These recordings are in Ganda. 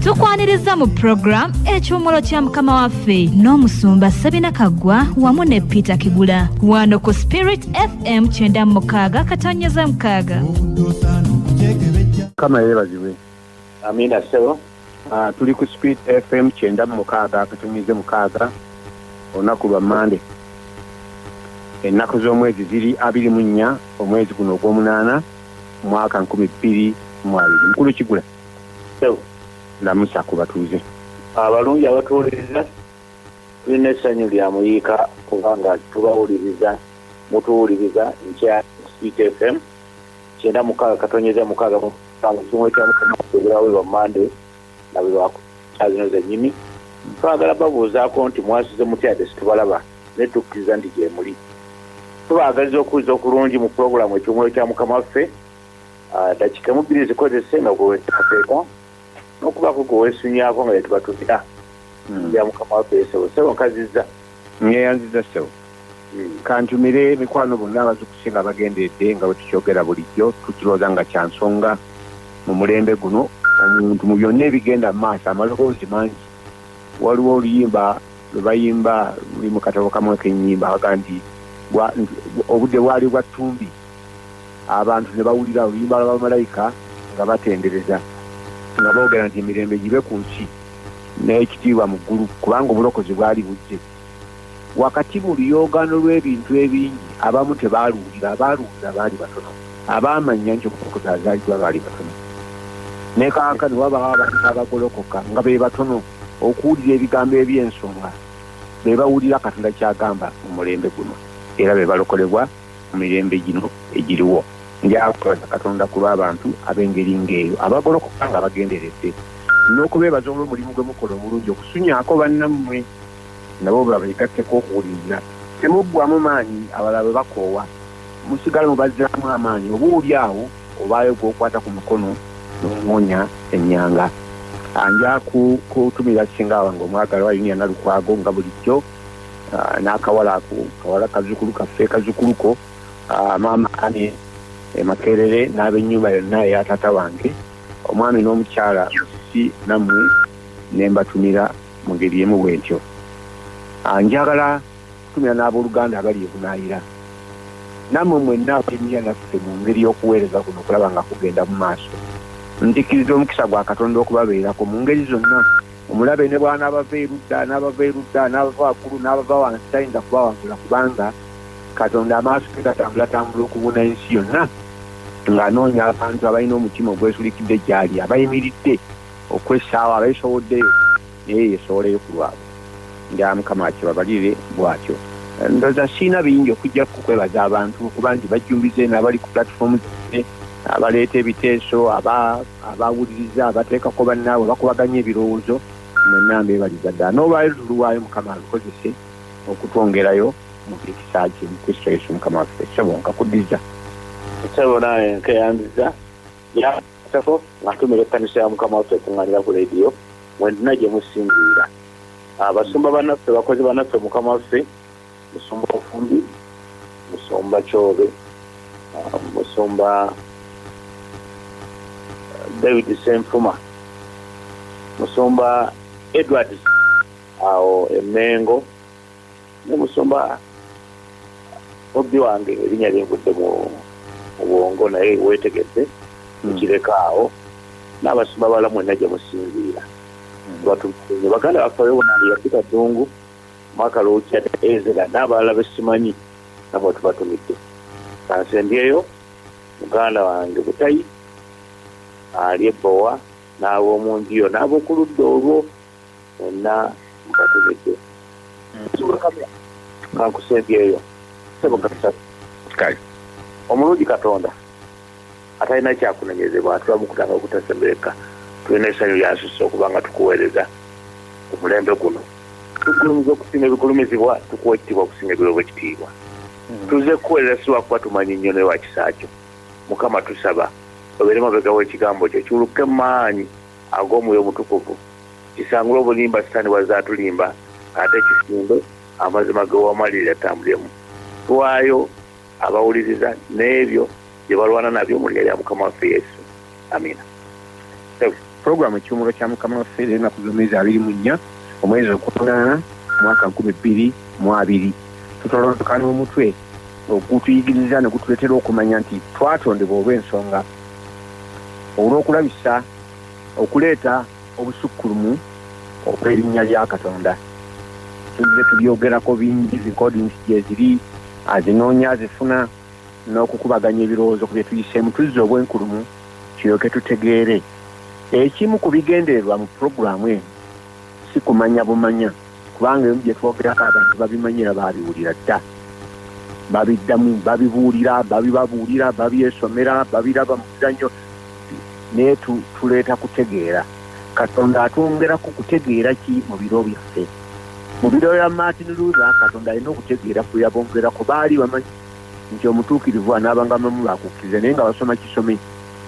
tukwanirizza mu puroguramu ekiwumulo kya mukama waffe n'omusumba sabina kaggwa wamu ne peter kigula wano ku spirit fm kyenda mukaaga katonyeza mukaaga kama yebazibwe amina sebo Ah, tuli ku speed fm kyenda mu mukaaga akatumize mukaaga olunaku lwa mande ennaku z'omwezi ziri abiri mu nnya omwezi guno ogw'omunaana mwaka nkumi bbiri mwabiri mukulu kigula lamusa ku batuuze abalungi abatuwuliriza tulina essanyu lya muyiika kubanga tubawuliriza mutuwuliriza nkya speed fm kyenda mukaaga katonyeza mukaaga musanvu kimu kya mukama okubeerawo lwa mande nga bwe bakukyazino zennyini twagala babuuzaako nti mwasize mutyade situbalaba ne tukkiriza nti gye muli tubaagaliza okuwuliza okulungi mu pulogulaamu ekyomwoyo kya mukama waffe ah, dakiika emubbiri zikozese nga gwewetateeka nokubaako gwewesunyaako nga yetubatumira hmm. ya mukama waffe esebo sebo nkazizza ngeyanziza sebo hmm. kantumire mikwano bonna abazukusi nga bagenderedde nga bwetukyogera bulijjo tukirooza nga kyansonga mu mulembe guno omuntu mu byonna ebigenda mu maaso amaloboozi mangi waliwo oluyimba lwe bayimba luli mu katabo kamu ekenyimba aga nti obudde bwali bwa ttumbi abantu ne bawulira oluyimba lwa bamalayika nga batendereza nga boogera nti emirembe gibe ku nsi n'ekitiibwa mu ggulu kubanga obulokozi bwali bujje wakati mu luyogaano lw'ebintu ebingi abamu tebaaluwulira abaaluwulira baali batono abaamanya nti obulokozi azaalibwa baali batono ne kaaka ne wabawo abantu abagolokoka nga be batono okuwulira ebigambo eby'ensonga be bawulira katonda ky'agamba mu mulembe guno era be balokolebwa mu mirembe gino egiriwo njakwebaza katonda ku lw'abantu ab'engeri ng'eyo abagolokoka nga bagenderedde n'okubeebaza olw'omulimu gwe mukola omulungi okusunyaako bannammwe nabo babegatteko okuwuliriza temuggwamu maanyi abalala bwe bakoowa musigala mubazzaamu amaanyi oba oli awo obaayo gwokwata ku mukono nomuwonya enyanga anja kutumira singa wange omwagalwa yuniana lukwago nga bulijjo ah, n'akawala ako kawala kazukulu kaffe kazukuluko ah, maama ani emakerere eh, n'abenyumba yonna eya taata wange omwami n'omukyala musisi nammwe ne mbatumira mu ngeri emu bwentyo ah, njagala kutumira n'abooluganda abali ebunaayira nammwe mwenna abalimira naffe mu ngeri y'okuweereza kuno okulaba nga kugenda mu maaso nzikiriza omukisa gwa katonda okubabeerako mu ngeri zonna omulabe ne bwanaabava erudda n'abava erudda n'abava waggulu n'abava wansi tayinza kubawangula kubanga katonda amaaso ge gatambulatambula okubuna ensi yonna ng'anoonya abantu abalina omutima ogwesulikidde gyali abayimiridde okwessaawo abeesowoddeyo naye yesowoleyo ku lwabwe nga mukama akibabalire bwatyo ndoza siina bingi okujja kukwebaza abantu okuba nti bajjumbize n'abali ku platform zine abaleeta ebiteeso abawuliriza abateekako bannaabwe bakubaganya ebirowoozo mwenna mbebaliza ddala n'olwaliro tuluwaayo mukama alukozese okutwongerayo mu kisa kye mu kristo yesu mukama waffe sebo nkakuddiza sebo naye nkeyandiza yasako ngatumira ekkanisa ya mukama waffe ekuŋŋanira ku lediyo mwenna gye musinziira abasumba ah, banaffe bakozi banaffe mukama waffe musumba ofumbi musumba kyobe ah, musumba eh, david senfuma musumba edward awo emengo ne musoma mubbi wange erinya lyengudde mu bwongo naye wetegedde hmm. ekirekaawo n'abasumba bala mwena gye musinziira hmm. batukuye baganda bafayo bonange yafika ddungu mwaka lwokya ezera n'abalala besimanyi namwe tubatumidde kansembyeyo muganda wange butayi ali ebbowa n'ab'omu njiyo n'ab'okuludda olwo mwenna mubategedde kankuseebyeyo sebo katusatu kale omulungi katonda atalina kyakunonyezebwa atula mukutanga okutasembereka tulina esanyu lyasusa okuba nga tukuweereza omulembe guno tugulumiza okusinga ebigulumizibwa tukuwa ekitiibwa okusinga ebiweebwa ekitiibwa hmm. tuze kukuweerera si lwakuba tumanyi nnyo naye lwa kisa kyo mukama tusaba obeere mabega w'ekigambo kyo kiwuluke maanyi ag'omwoyo omutukuvu kisangule obulimba sitani bwazze atulimba ate kisimbe amazima gewamalirira atambulemu tuwaayo abawuliriza n'ebyo bye balwana nabyo mu lya lya mukama waffe yesu amina puroguramu ekiwumulo kya mukama waffe nenaku z'omwezi abiri mu nnya omwezi okunaana mwaka nkumi bbiri mu abiri tutolondoka n'omutwe ogutuyigiriza ne gutuleetera okumanya nti twatondebwa olw'ensonga olw'okulabisa okuleeta obusukkulumu okw'erinnya lya katonda tuzze tubyogerako bingi recordings gyeziri azinoonya azifuna n'okukubaganya ebirowoozo ku bye tuyiseemu tuzze obwenkulumu kiryoke tutegeere ekimu ku bigendererwa mu pulogulaamu eno si kumanya bumanya kubanga ebimu bye twogerako abantu babimanyira baabiwulira dda babiddamu babibuulira babibabuulira babyesomera babiraba mu bizannyo naye tuleeta kutegeera katonda atwongera ku kutegeera ki mu biro byaffe mu biro bya martin luza katonda alina okutegeera kwe yabongerako baali bamanyi nti omutuukirivu anaabanga mamu bakukkiriza naye nga basoma kisome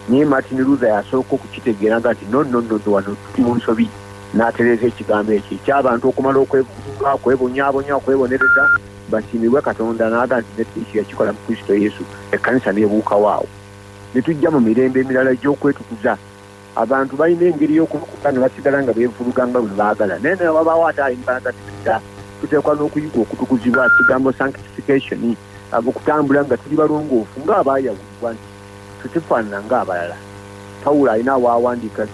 naye martin luther yasooka okukitegeera nga nti nonnonodo wano tuli mu nsobi n'atereeza ekigambo ekyo ekyabantu okumala okwebuuka okwebonyabonya okwebonereza basiimibwe katonda n'aga nti nekristo yakikola mu kristo yesu ekkanisa nebuukawo awo ne tujja mu mirembe emirala egy'okwetukuza abantu balina engeri y'okubukuka ne basigala nga beevuluga nga bwe baagala naye naye wabaawo ate ayimbalaga tisa tuteekwa n'okuyiga okutukuzibwa kigambo sanctification abokutambula nga tuli balongoofu ng'abaayawulibwa nti tetufaanana ng'abalala pawulo alina waawandiika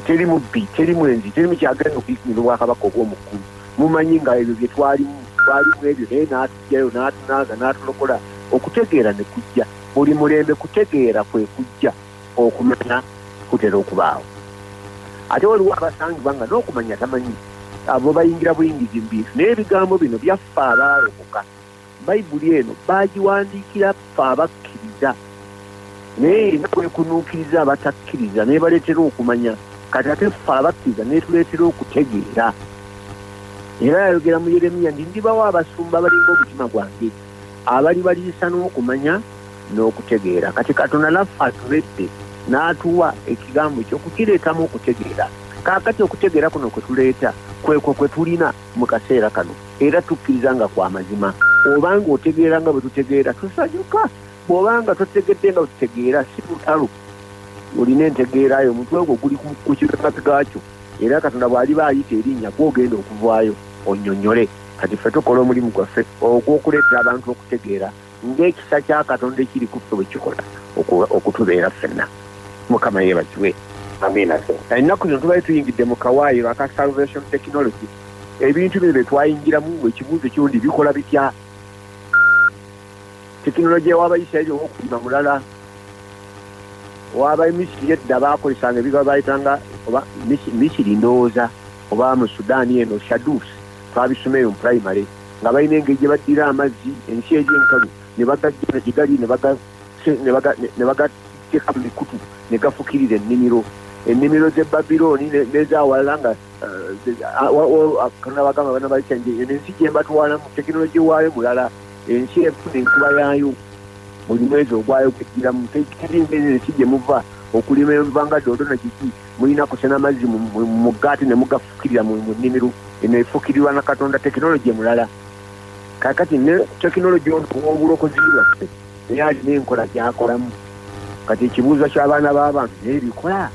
teri mubbi teri mwenzi teri mukyagenda okuyitmira obwakabaka obwomuggulu mumanyi nga ebyo bye twalimu twalimu ebyo naye n'atugyayo n'atunaaza n'atulokola okutegeera ne kujja buli mulembe kutegeera kwe kujja okumanya kutera okubaawo ate waliwo abasangibwa nga n'okumanya tamanyi abo bayingira buyingizi mu bintu naye ebigambo bino byaffe abaalokoka Bayibuli eno baagiwandiikira ffe abakkiriza, naye erina kwekunuukiriza abatakkiriza n'ebaleetera okumanya. Kati ate ffe abakkiriza n'etuleetera okutegeera. Era yayogera mu Yeremiya nti ndibawo abasumba abalinga omutima gwange abalibaliisa n'okumanya n'okutegeera. Kati Katonda naffe atubedde n'atuwa ekigambo kye okukireetamu okutegeera. Kaakati okutegeera kuno kwe tuleeta kwekwo kwe tulina. mu kaseera kano era tukkiriza nga kwa mazima obanga otegeera nga bwe tutegeera tusanyuka bw'obanga totegedde nga bwe tutegeera si lutalo olina entegeera yo omutwe ogwo guli ku kikakati gaakyo era katonda bw'aliba ayita erinnya gwogenda okuvaayo onnyonnyole kati ffe tukola omulimu gwaffe ogw'okuleetera abantu okutegeera ng'ekisa kya katonda ekiri ku ffe bwe kikola okutubeera ffenna mukama yeebazibwe ennaku zino tubali tuyingidde mu kawaayiro aka salvation technology ebintu bino bye twayingiramu ekibuuzo kirundi bikola bitya tekinologiya w'abayisirayiri ow'okulima mulala waba emisiri edda bakozesanga ebiga bayitanga oba misiri ndowooza oba mu sudaani eno shadus twabisoma eyo mu primary nga balina engeri gye baddira amazzi ensi eri enkalu ne bagajjana gye gali ne bagateeka mu mikutu ne gafukirira ennimiro ennimiro z'e babilooni n'ezawalala nga katonda bagamba bana balikyange eno ensi gye mbatwalamu tekinologi waayo mulala ensi efuna enkuba yaayo buli mwezi ogwayo kugiramu tekiringa ensi gye muva okulima enva nga doodo na kiki Mulina kusena mazzi mu mugga ate ne mugafukirira mu nnimiro. Eno efukirirwa na Katonda tekinologiya mulala. Kaakati ne tekinologiya ono ow'obulokozi bwaffe naye alina enkola gy'akolamu. Kati ekibuuzo ky'abaana b'abantu naye bikola?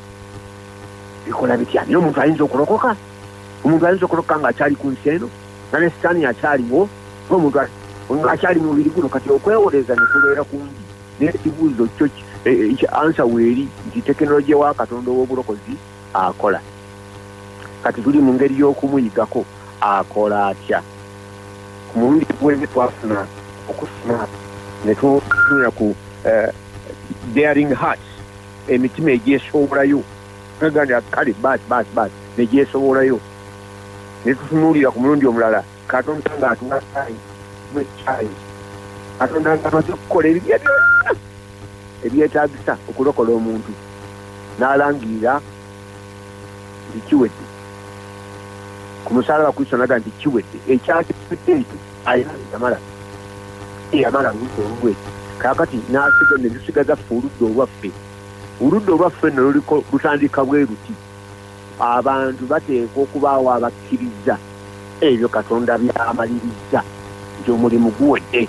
Bikola bitya? Naye omuntu ayinza okulokoka? Omuntu ayinza okulokoka ng'akyali ku nsi eno? Nga ne sitaani akyaliwo? Omuntu akyali mu mubiri guno? Kati okwewolereza ne kubeera kungi. naye ekibuuzo kyo e, e, ansa weeri nti tekinologiya wa katonda ow'obulokozi akola kati tuli mu ngeri y'okumuyigako akola atya ku mulundi gwezi twafuna okusoma ne tutunula ku eh, daring heart emitima egyesowolayo agandi kale bas bas bas negyesobolayo netutunuulira ku mulundi omulala katonda nga atuwa time mu time katonda nga amaze okukola ebibye byonna ebyetagisa okulokola omuntu n'alangirira nti kiwedde ku musalaba kristo naga nti kiwedde ekyakifudde ekyo alina yamala eyamala ngudde olugwe kakati n'asiga ne lusigaza ffe oludda olwaffe oludda olwaffe nno luliko lutandika bwe luti abantu bateekwa okubaawo abakkiriza ebyo katonda byamalirizza nti omulimu guwedde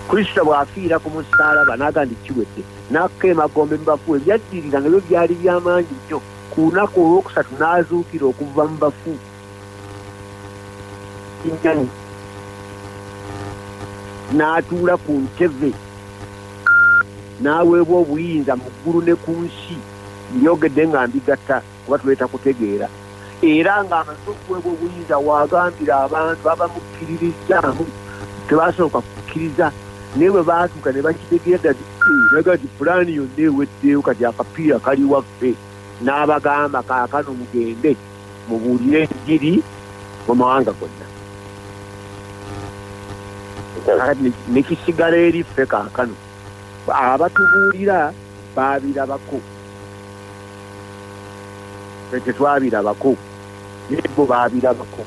kristo bw'afiira ku musaalaba n'aga nti kiwedde n'akka emagombe mu bafu ebyaddirira nga byo byali by'amaanyi nnyo ku lunaku olwokusatu n'azuukira okuva mu bafu kinyani n'atuula ku ntebe n'aweebwa obuyinza mu ggulu ne ku nsi Mbyogedde nga mbigatta kuba tuleeta kutegeera era ng'amaze okuweebwa obuyinza waagambira abantu babamukkiririzzaamu tebasooka kukkiriza naye bwe baatuuka ne bakitegeera naga nti pulaani yonna eweddeyo kati akapiira kali waffe n'abagamba kaakano mugende mubuulire enjiri mu mawanga gonna nekisigala eri ffe kaakano abatubuulira baabirabako fe tetwabirabako naye bo baabirabako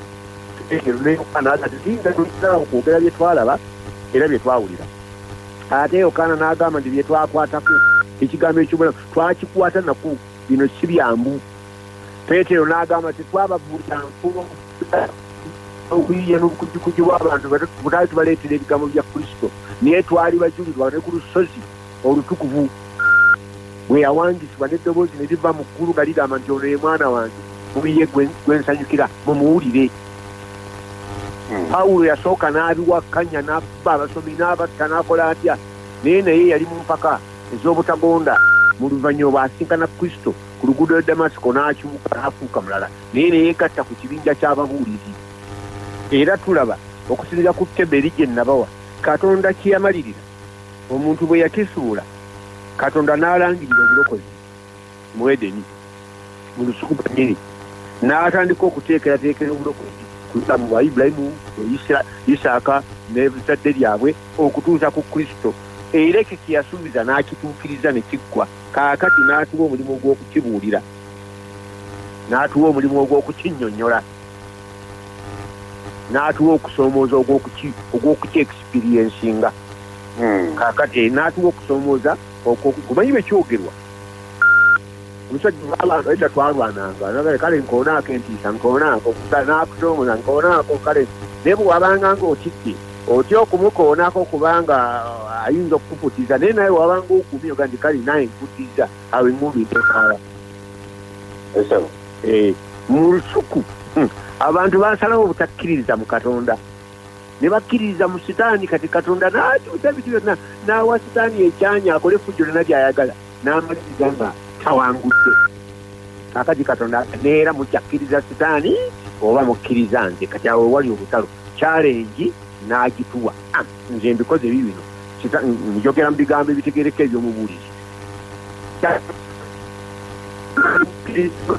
nayokaanaatindaao kwogera bye twalaba era bye twawulira ate yokaana n'agamba nti bye twakwatako ekigambo ekyobulamu twakikwata naku bino si byangu peetero n'agamba tetwababuulira nfumo okuyiya n'obukujjukujju bw'abantu butaali tubaleetera ebigambo bya kristo naye twali bajulirwa ne ku lusozi olutukuvu bwe yawangisibwa n'eddoboozi ne liva mu ggulu nga ligamba nti ono ye mwana wange muyiye gwe nsanyukira mumuwulire hmm. pawulo yasooka n'abiwakkanya n'abba abasomi n'abatta n'akola atya naye naye yali mu mpaka ez'obutagonda mu luvannyuma bw'asinkana kristo ku luguudo lwa damasiko n'akyuka n'afuuka mulala naye ne yeegatta ku kibinja ky'ababuulizi. Era tulaba, okusinziira ku Keberi gye nnabawa, Katonda kye yamalirira, omuntu bwe yakisuula, Katonda n'alangirira obulokozi mu Edeni, mu lusuku lwennyini, n'atandika okuteekerateekera obulokozi kussa mu bwa Ibulayimu, Isaaka, n'ezzadde lyabwe okutuusa ku Kristo. Era ekyo kye yasuubiza n'akituukiriza ne kiggwa. Kaakati n'atuwa omulimu gw'okukibuulira. n'atuwa omulimu ogw'okukinnyonnyola n'atuwa okusoomooza ogw'okukyexperiensinga hmm. kakati eh, n'atuwa okusoomooza kumanyi bwe kyogerwa omusajja twalwananga kale nkoonaako entiisa nkoonaako n'akusoomooza nkoonaako kale naye bwe wabanga ng'otidde otya okumukoonako kubanga uh, ayinza okukufutiza naye naye wabanga ogumye oga nti kale naye nkutiza I will move it far. Esebo. Eh, mu lusuku. Hmm. Abantu basalawo obutakkiririza mu Katonda. Ne bakkiririza mu sitaani kati Katonda n'akyusa ebintu byonna n'awa sitaani ekyanya akole effujjo lyonna by'ayagala n'amaliriza nga tawangudde. Kakati Katonda neera mukyakkiriza sitaani oba mukkiriza nze kati awo wali obutalo kyalengi n'agituwa ah, nze mbikoze bibino njogera mu bigambo ebitegereka ebyomubuulizi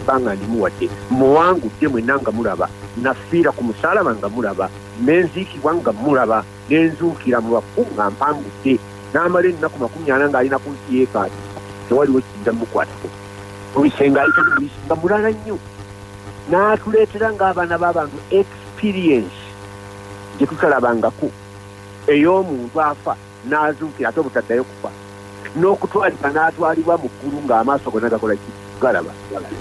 banga ndimuwadde muwangudde mwena nga mulaba nafiira ku musalaba nga mulaba nenziikibwa nga mulaba nenzuukira mu bafu nga mpangudde n'amala ennaku makumi ana ng'alina ku nsi yeekaati tewaliwo kiyinza mukwatako obisenga ayitaliisi nga mulala nnyo n'atuleetera ng'abaana b'abantu experience gye tutalabangako ey'omuntu afa n'azuukira ate obutaddayo kufa n'okutwalibwa n'atwalibwa mu ggulu ng'amaaso gonna gakola ki galaba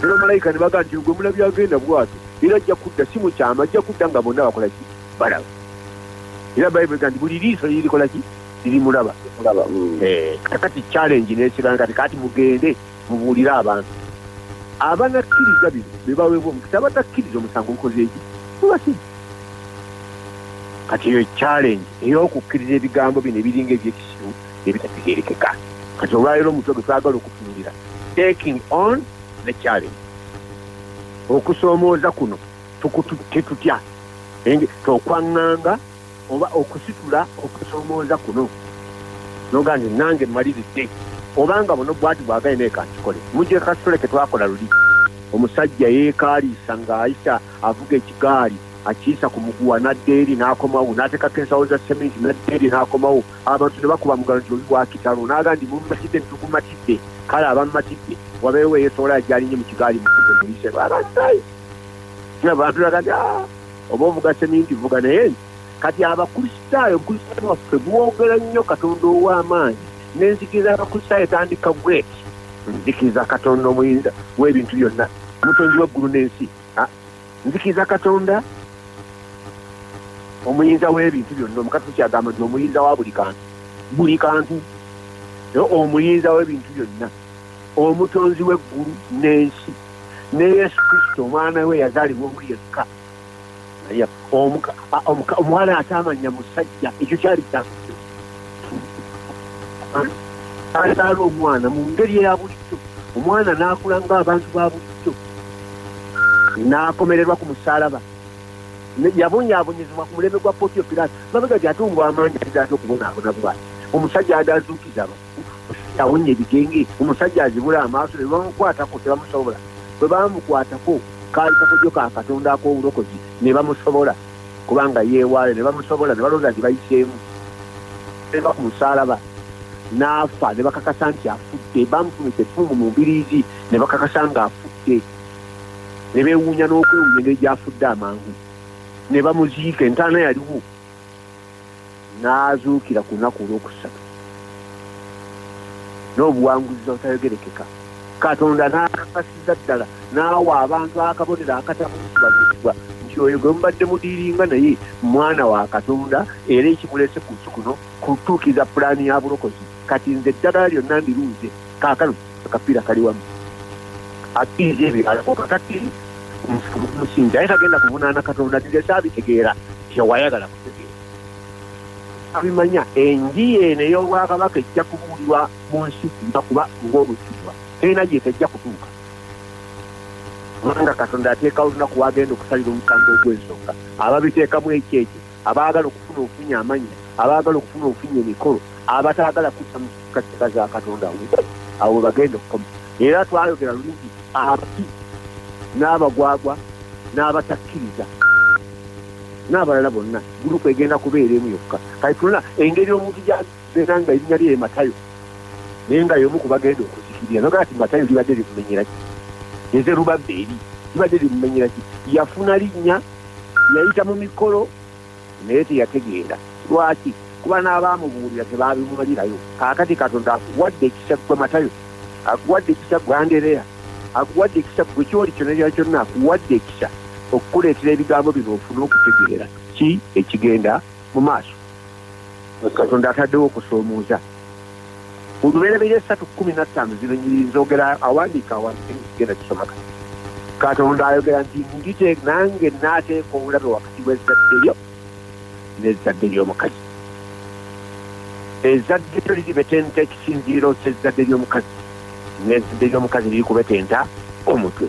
era malayika ne baga nti gwe mulabi agenda bwati era ajja kudda si mukyama ajja kudda nga bonna bakola ki balaba era bayibuli ga nti buli liiso lirikola ki lirimulaba mm. eh, kakati challenge n'ekiranga kati kati mugende mubuulire abantu abanakkiriza bino bebaweebwa omukisa abatakkiriza omusango gukozeeki mubasigi kati eyo challenge eyokukkiriza ebigambo bino ebiringa ebyekisiru ebitategerekeka kati olwaleero omutwe gwe twagala okutunulira taking on the challenge okusoomooza kuno tukututte tutya enge tokwaŋŋanga oba okusitula okusoomooza kuno noga nti nange mmaliridde obanga buno bwati bwagaye naye kankikole mujje kasitole ke twakola luli omusajja yeekaaliisa ng'ayisa avuga ekigaali akiyisa ku muguwa n'adda eri n'akomawo n'ateekako ensawo za seminti n'adda eri n'akomawo abantu ne bakuba mugalo nti oli wakitalo n'aga nti mummatidde nitukumatidde kale abammatidde wabeewo eyesobola yajalinnye mu kigaali muise abantu laga nti ah, oba ovuga seminti vuga naye nti kati abakristaayo obukristaayo bwaffe bwogera nnyo katonda ow'amaanyi n'enzikiriza y'abakristaayo etandika gweti nzikiriza katonda omuyinza w'ebintu byonna omutonzi w'eggulu n'ensi ah, nzikiriza katonda omuyinza w'ebintu byonna omukatuliki agamba nti omuyinza wa buli kantu buli kantu omuyinza w'ebintu byonna Omutonzi w'eggulu n'ensi ne Yesu Kristo omwana we yazaalibwa omu yekka omuwala ataamanya musajja ekyo kyali kya azaala omwana mu ngeri eya bulijjo omwana n'akula nga abantu ba bulijjo n'akomererwa ku musaalaba yabonyaabonyezebwa ku mulembe gwa potiyo piraasi mabega gyatumbwa amaanyi azaate okubonaabona bwati omusajja adaazuukizaba awonye ebigenge omusajja azibula amaaso ne bamukwatako tebamusobola bwe bamukwatako kaali kakodyo ka katonda ak'obulokozi ne bamusobola kubanga yeewaayo ne bamusobola ne balonda nti bayiseemu eva ku musaalaba n'afa ne bakakasa nti afudde bamufunisa effumu mu mbiriizi ne bakakasa nga afudde ne beewuunya n'okwewuunya engeri gy'afudde amangu ne bamuziika entaana yaliwo n'azuukira ku lunaku olw'okusatu n'obuwanguzi obutayogerekeka katonda n'akakasiza ddala n'awa abantu akabonero akatakubazibbwa nti oyo gwe mubadde mudiiringa naye mwana wa katonda era ekimulese ku nsi kuno kutuukiriza pulaani ya bulokozi kati nze eddagala lyonna ndiruuze kaakano akapiira kali wamu akiriza ebiralako kakati musinzi aye kagenda kuvunaana katonda tigesa abitegeera kyewayagala kutegeera abimanya enji eno ey'obwakabaka ejja kubuulirwa mu nsi kuba kuba ng'obukirwa terina gyete ejja kutuuka kubanga katonda ateekawo olunaku wagenda okusalira omusango ogw'ensonga ababiteekamu ekyekyo abaagala okufuna ofunya amannya abaagala okufuna ofunya emikolo abataagala kudda mu katika za katonda awo webagenda okukoma era twayogera lungi abaki n'abagwagwa n'abatakkiriza n'abalala bonna gulupu egenda kubeera emu yokka kati tulina engeri omuntu beera nga erinnya lye matayo naye nga yomu kubagenda okuzikirira nogaa ti matayo libadde limumenyeraki eze lubabba eri libadde limumenyeraki yafuna linnya yayita mu mikolo naye teyategeera lwaki kuba n'abaamubuulira tebaabimumalirayo kaakati katonda akuwadde ekisa gwe matayo akuwadde ekisa gwe andereya akuwadde ekisa gwe kyoli kyona kyona kyonna akuwadde ekisa okukuleetera ebigambo bino ofune okutegeera ki ekigenda mu maaso katonda ataddewo okusoomooza olubereberye esatu kumi nattaano zibenyiririzogera awandiika awandigenda kisomaka katonda ayogera nti ndite nange naateeka obulabe wakati bwezadde lyo nezadde ly'omukazi ezadde lyo liribetenta ekisinziiro kyezadde ly'omukazi nezadde ly'omukazi liri kubetenta omutwe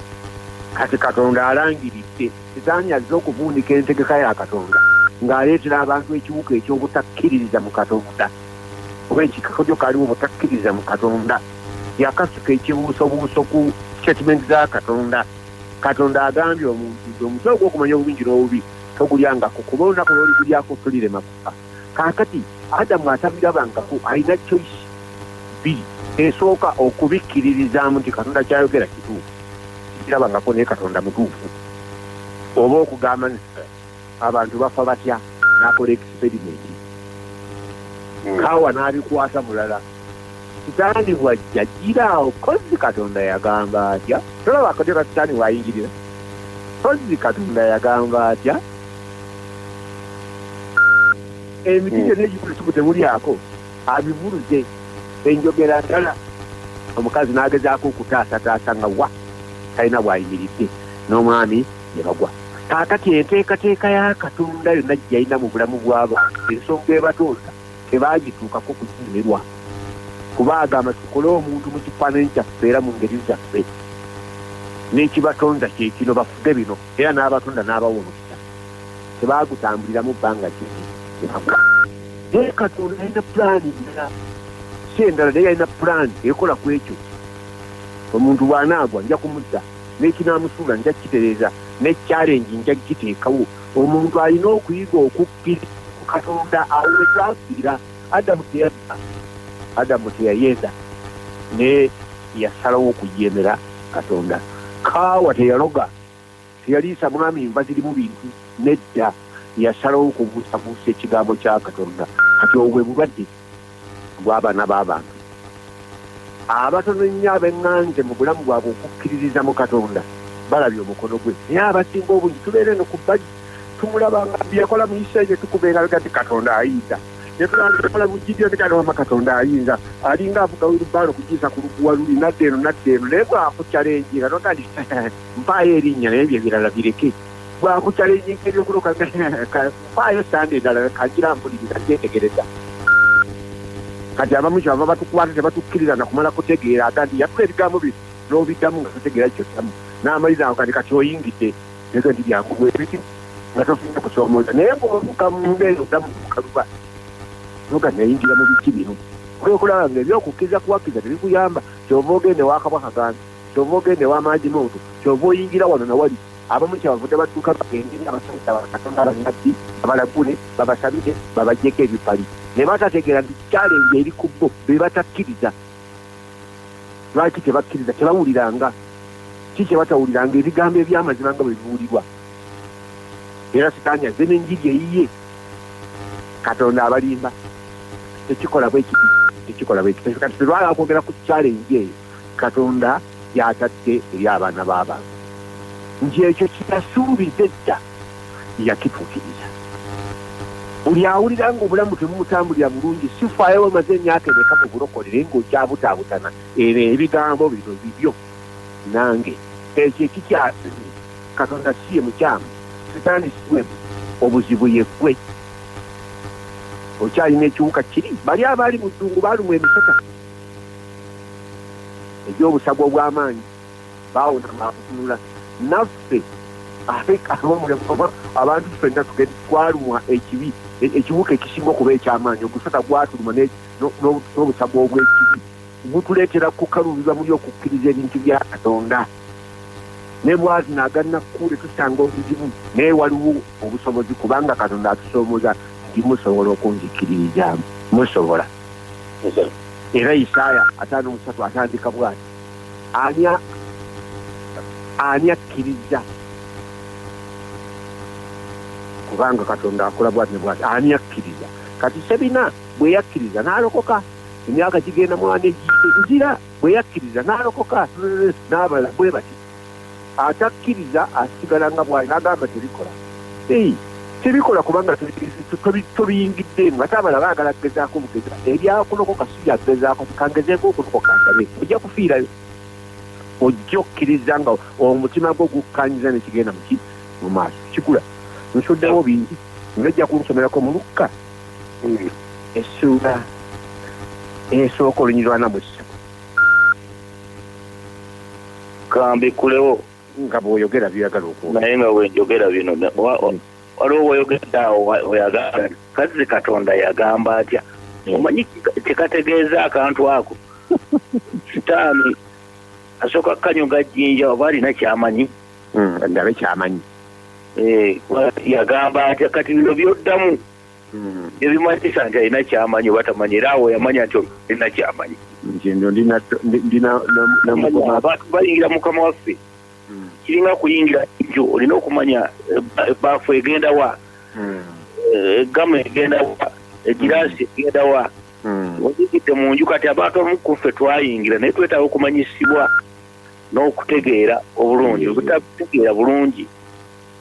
kati katonda alangiridde Sitaani azze okuvuunika entegeka ya Katonda ng'aleetera abantu ekiwuka eky'obutakkiririza mu Katonda oba ekikakojo kaliwo obutakkiririza mu Katonda. Yakasuka ekibuusobuuso ku sitatimenti za Katonda. Katonda agambye omuntu nti omuti ogw'okumanya obulungi n'obubi togulyangako kuba olunaku lw'oligulyako tulirema kufa. kaakati adamu atabirabangako alina choice bbiri esooka okubikkiririzaamu nti katonda kyayogera kituufu kirabangako naye katonda mutuufu oba okugamba abantu bafa batya nakola experimenti hmm. kaawa n'abikwasa mulala sitaani bwajja gira awo kozzi katonda yagamba atya tolaba akatya ka sitaani waayingirira kozzi katonda yagamba atya emiti gyonna egikulusuku temulyako abivuluze enjogera ndala omukazi n'agezaako okutaasataasa nga wa talina bwayimiridde n'omwami ne bagwa kaakati enteekateeka ya katonda yonna gyeyalina mu bulamu bw'abantu ensonga ebatonda tebaagituukako kunyumirwa kuba agamba tukole omuntu mu kifaananyi kyaffe era mu ngeri zaffe n'ekibatonda kyekino bafuge bino era n'abatonda n'abawa omukisa tebaagutambuliramu bbanga kiki naye katonda yalina pulaani ndala si endala naye yalina pulaani ekola ku ekyo omuntu bw'anaagwa nja kumudda n'ekinaamusuula nja kukitereeza ne kyalengi nja kukiteekawo omuntu alina okuyiga okukka katonda awo wetwafiira adamu teyazza adamu teyayeza naye yasalawo okujemera katonda kaawa teyaloga teyaliisa mwami nva zirimu bintu nedda yasalawo okubuusabuusa ekigambo kya katonda kati obwe bulwadde gw'abaana b'abantu abatono ennyo abeng'anze mu bulamu bwabwe okukkiririza mu katonda balabye omukono gwe naye abasinga obungi tubeera eno ku bbagi tumulaba nga byeyakola mu isirairi netukuba engalo gati katonda ayinza netulakola bujjidyo nekanomama katonda ayinza alinga avuga wirubaalo kugiyisa ku luguwa luli nadda eno nadda eno naye bwakucala enjinga nogandi mpaayo erinnya naye bye birala bireke bwakucala enjinga ebyokuloka faayo sande endala kagira mpuliriza ntetegereza kati abamu kyava batukwata tebatukkiriza nakumala kutegeera aga nti yatula ebigambo bye n'obiddamu nga tutegeera kyoddamu n'amaliza awo kati kati oyingidde ezo nti byanguwa ebiti nga tofunye kusoomooza naye bwotuka munda eyo oddamu kukaluba noga nayingira mu biki bino kwekulaba nga ebyokukkiriza kuwakkiza tebikuyamba kyova ogende wakabwa kaganzi kyova ogende wamaagi muntu kyova oyingira wano nawali abamu kyebavudde badduka bagende eri abasajja bakatonda bannabbi babalagule babasabire babajjeko ebipali ne batategeera nti kyalenje eri ku bo be batakkiriza lwaki tebakkiriza tebawuliranga ki kyebatawuliranga ebigambo ebyamazima nga bwe bibuulirwa era sitaani azze n'enjiri eyiye katonda abalimba tekikola bwekiti tekikola bwekiti kati tetwala kwogera ku kyalenje eyo Katonda gy'atadde eri abaana b'abantu, nti ekyo kye yasuubiza edda yakituukiriza. Buli awulira ng'obulamu tebumutambulira bulungi, si faayo wamaze emyaka emeka mu bulokolere ng'okyabutaabutana, ebyo ebigambo bino bibyo nange. Ekyo ekikyasize, Katonda si ye mukyamu, Sitaani si we bu, obuzibu ye ggwe. Okyalina ekiwuka kiri. Bali abaali mu ddungu baalumwa emisota. egy'obusago obw'amaanyi baawona maakutunula naffe abantu ffenna twalumwa ekibi e, ekiwuka ekisinga okuba eky'amaanyi ogusata gwatuluma n'obusago obw'ekibi gutuleetera kukaluubiza muli okukkiriza ebintu bya katonda ne bwazina aganakkuule tusanga obuzibu naye waliwo obusobozi kubanga katonda atusoomoza nti musobola okunzikiririzaamu musobola era isaaya ataano omusatu atandika bwati ani ani akkiriza kubanga katonda akola bwati nebwati ani akkiriza kati sebina bwe yakkiriza n'alokoka emyaka gigenda mwana egiyite nzira bwe yakkiriza n'alokoka n'abala bwe bati atakkiriza asigala nga bwali nagamba tebikola tebikola kubanga tobiyingiddeemu ate abala baagala kugezaako bugeza ebyakulokoka si byakugezaako kangezeeko okulokoka ndabe ojja kufiirayo ojja okkiriza nga omutima gwo gukkanyiza nekigenda muki mu maaso kikula nsuddewo bingi nojja kunsomerako mu lukka essuula esooka olunyirwana mu ssatu kambikulewo nga bwoyogera byoyagala oku naye nga wenjogera bino mm. waliwo woyogedde awo oyagala kazzi katonda yagamba atya mm. omanyi kyekategeeza akantu ako sitaani asooka kukanyuga jjinja oba alina kyamanyi mm, ndabe kyamanyi eh, yagamba atya kati bino byoddamu ebimanyisa nti alina kyamanyi oba tamanyi era awo yamanya nti olina kyamanyi abantu bayingira mukama waffe hmm. kiringa kuyingira nju olina okumanya ebaafu eh, egenda wa hmm. eh, egamu egenda wa egiraasi hmm. egenda wa oyingidde mu nju kati abantu abamu kuffe twayingira naye twetaaga okumanyisibwa n'okutegeera obulungi obutakutegeera bulungi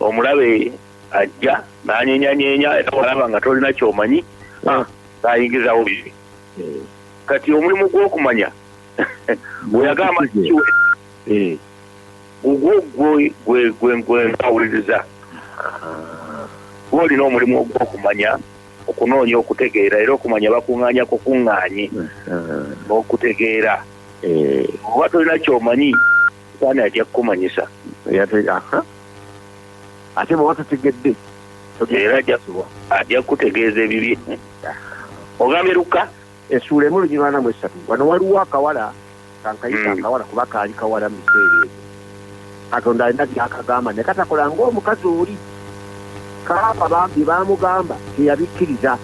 omulabe ajja nanyenyanyeenya era walaba nga tolina kyomanyi ah. nayingizawo bibi eh. kati omulimu gwokumanya weyagamba kiwe eh. gugwo gwempawuliriza ah. gwolina omulimu ogwokumanya okunoonya okutegeera era okumanya bakuŋŋaanya kukuŋŋaanye n'okutegeera eh. oba tolina kyomanyi saani ajja kukumanyisa ate bwoba totegedde era ajasubwa ajja kukutegeeza ebibye ogambye lukka esuula emu lunyirwa namu esatu wano waliwo akawala kankayita hmm. akawala kuba kaali kawala mu biseera ebyo katonda alina byakagamba naye katakola ngaomukazi oli kaaba bambi bamugamba teyabikkiriza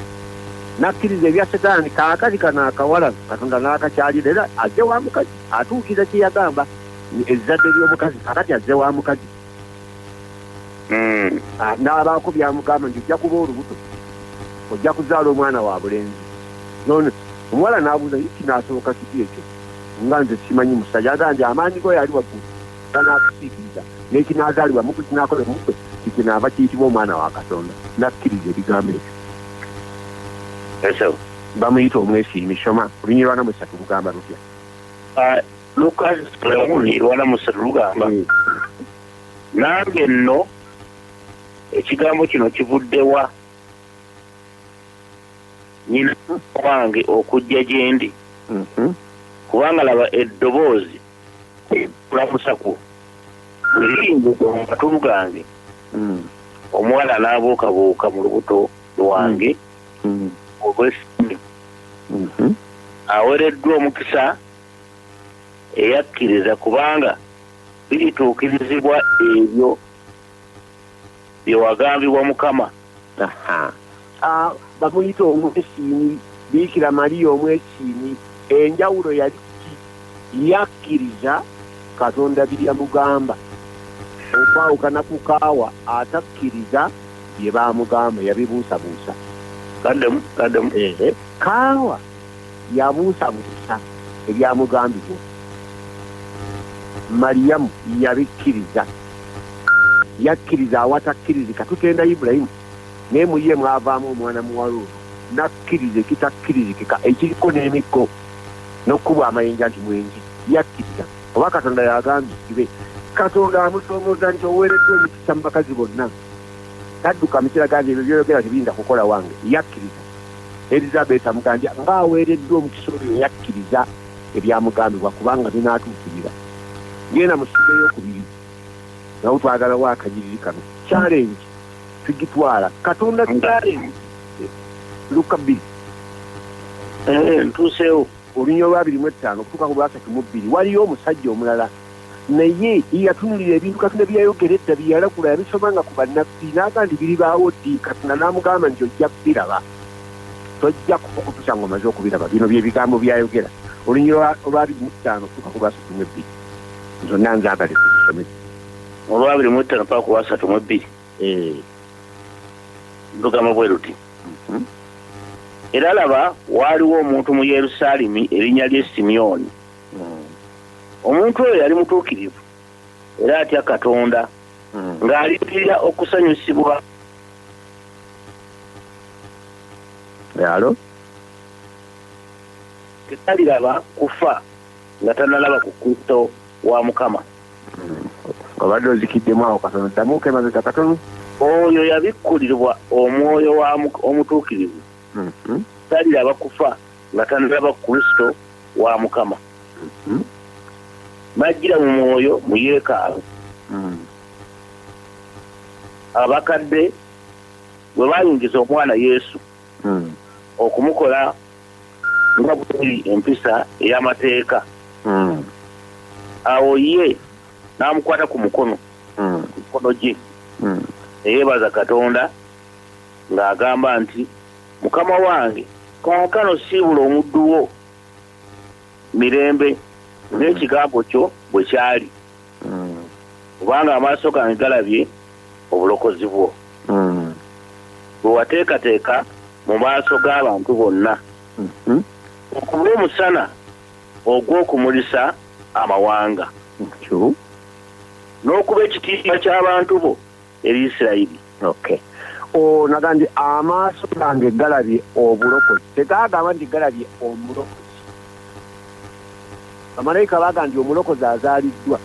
nakkiriza ebya setaani kaakazi kano akawala katonda naakakyalira era azze wa mukazi atuukiriza kyeyagamba ezzadde ly'omukazi kakati azze wa mukazi hmm. ah, n'abaako byamugamba nti ojja kuba olubuto ojja kuzaala omwana wa bulenzi none omuwala n'abuuza ye kinaasoboka kiti ekyo nga nze simanyi musajja aga nti amaanyi go yali waggulu ganaakusiikiriza n'ekinaazaalibwa muku kinaakola omukwe kikinaava kiyitibwa omwana wa katonda n'akkiriza ebigambo ekyo bamuyita omwesiimi soma olunyirwana mu satu lugamba lutya ah, lukazi lwemuli lwalamusa lugamba mm. nange nno ekigambo kino kivuddewa nyina wange okujja gyendi mm-hmm. kubanga laba eddoboozi kulamusakwo luyingo gwamatulu gange mm. omuwala n'abuukabuuka mu lubuto lwange mm. mm. olw'essanyu mm-hmm. awereddwa omukisa eyakkiriza kubanga birituukirizibwa ebyo bye wagambibwa mukama bamuyita omwesiimi biikira maliya omwesiimi enjawulo yali yakkiriza katonda byeyamugamba okwawukana ku kaawa atakkiriza bye bamugamba yabibuusabuusa kaawa Yabuusabuusa ebyamugambibwa. Maliyamu yabikkiriza. Yakkiriza awatakkirizika. Tutenda Ibulayimu, naye mu ye mwavaamu omwana muwala ono n'akkiriza ekitakkirizikika ekiriko n'emikko n'okukubwa amayinja nti mwenzi. Yakkiriza oba Katonda yagambye kibe. Katonda amusoomooza nti oweereddwa emikisa mu bakazi bonna. Tadduka mu kiraga nti ebyo by'oyogera tebiyinza kukola wange. Yakkiriza. Erizabeeta Muganjja ng'aweereddwa omukisa oyo yakkiriza ebyamugambibwa kubanga binaatuukirira. Ng'ena mu ssuula ey'okubiri nawo twagalawo akanyiriri kano, Challenge tugitwala Katonda Challenge Lukka bbiri eh, ntuuseewo olunya olwabiri mu ettaano okutuuka ku lwasatu mu bbiri waliyo omusajja omulala naye ye yatunulira ebintu katonda bye yayogera edda bye yalagula yabisomanga ku bannabbi n'aga nti biribaawo ddi katonda n'amugamba nti ojja kubiraba tojja kukutusa nga omaze okubiraba bino byebigambo byayogera olunyiro olwabiri mu ttaano tuka ku lwasatu mu ebbiri zonna nzagale tuzisome olwabiri mu ttaano paka ku lwasatu mu ebbiri eh. lugamba bwe luti mhm. era laba waaliwo omuntu mu yerusaalemi erinnya lye simyoni omuntu oyo yali mutuukirivu era atya katonda hmm. ng'alindirira okusanyusibwa alo tetaliraba kufa nga tanalaba ku kristo wa mukama hmm. obadde ozikiddemu awo katono ddamu kemabega katono oyo yabikkulirwa omwoyo omutuukirivu hmm. taliraba kufa nga tanalaba kristo wa mukama mm-hmm. najjira mu mwoyo mu yeekaalu mm. abakadde bwe bayingiza omwana yesu mm. okumukola nga buli empisa ey'amateeka mm. awo ye n'amukwata ku mukono ku mikono gye neyeebaza katonda ng'agamba nti Mukama wange, kaakano siibula omuddu wo mirembe n'ekigambo kyo bwe kyali, mm. kubanga amaaso gange galabye obulokozi bwo mm. bwe wateekateeka mu maaso g'abantu bonna mm-hmm. okuba omusana ogw'okumulisa amawanga n'okuba ekitiibwa ky'abantu bo eri isirayiri okay o naga nti amaaso gange galabye obulokozi tegagamba nti galabye omulokozi bamalayika baga nti omulokozi azaaliddwa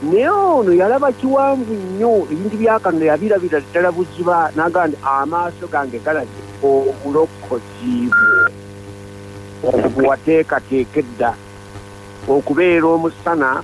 naye ono yalaba kiwanvu nnyo ebintu byakano yabirabira ddala buziba naga nti amaaso gange galabye obulokozi bwo obwo wateekateeka edda okubeera omusana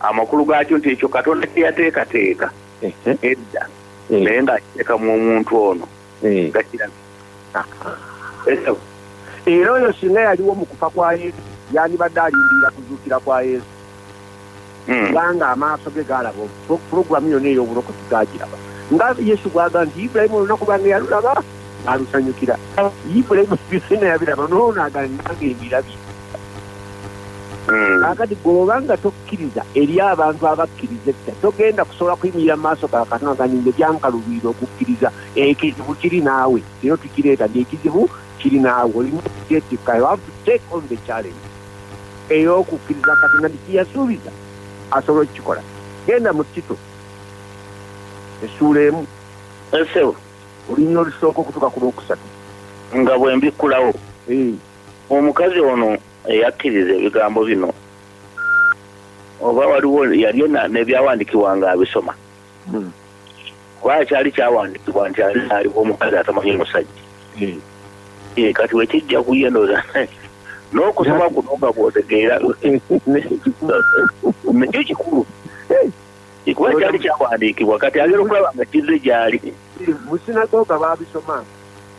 amakulu gaakyo nti ekyo katonda kyeyateekateeka edda naye ng'akiteeka mu omuntu ono gakiraga era oyo singa yaliwo mu kufa kwa yesu yandibadde alindirira kuzuukira kwa yesu hmm. kubanga amaaso ge gaalaba pulogulamu yonna ey'obulokozi gaagiraba nga yesu gwaga nti ibulayimu olunaku bange yalulaba alusanyukira yibula emusibisina yabiraba noono agananga ebirabi hmm. akati gwobanga tokkiriza eri abantu abakkiriza etta togenda kusobola kuyimirira maaso ga katonda ganinge gyankalubiira okukkiriza ekizibu kiri naawe ero tukireeta nti ekizibu kiri naawe olina okutetikka you have to take on the challenge ey'okukkiriza katonda nti kiyasuubiza asobola okukikola genda mu tito essuula emu Olunyiriri olusooka okutuuka ku lwokusatu. Nga bwe mbikkulawo. Eeh. Omukazi ono eyakkiriza ebigambo bino, oba waliwo yali ena n'ebyawandiikibwa nga abisoma? Hmm. Kubanga kyali kyawandiikibwa nti ali aliwo omukazi atamanyi musajja. Eeh. Eeh, kati bwe kijja ku ye ndowooza n'okusoma kuno nga bw'otegeera, nakyo kikulu. Ikuba kyali kyawandiikibwa kati agera okulaba nga kizze gyali. Mu sinagoga baabisoma.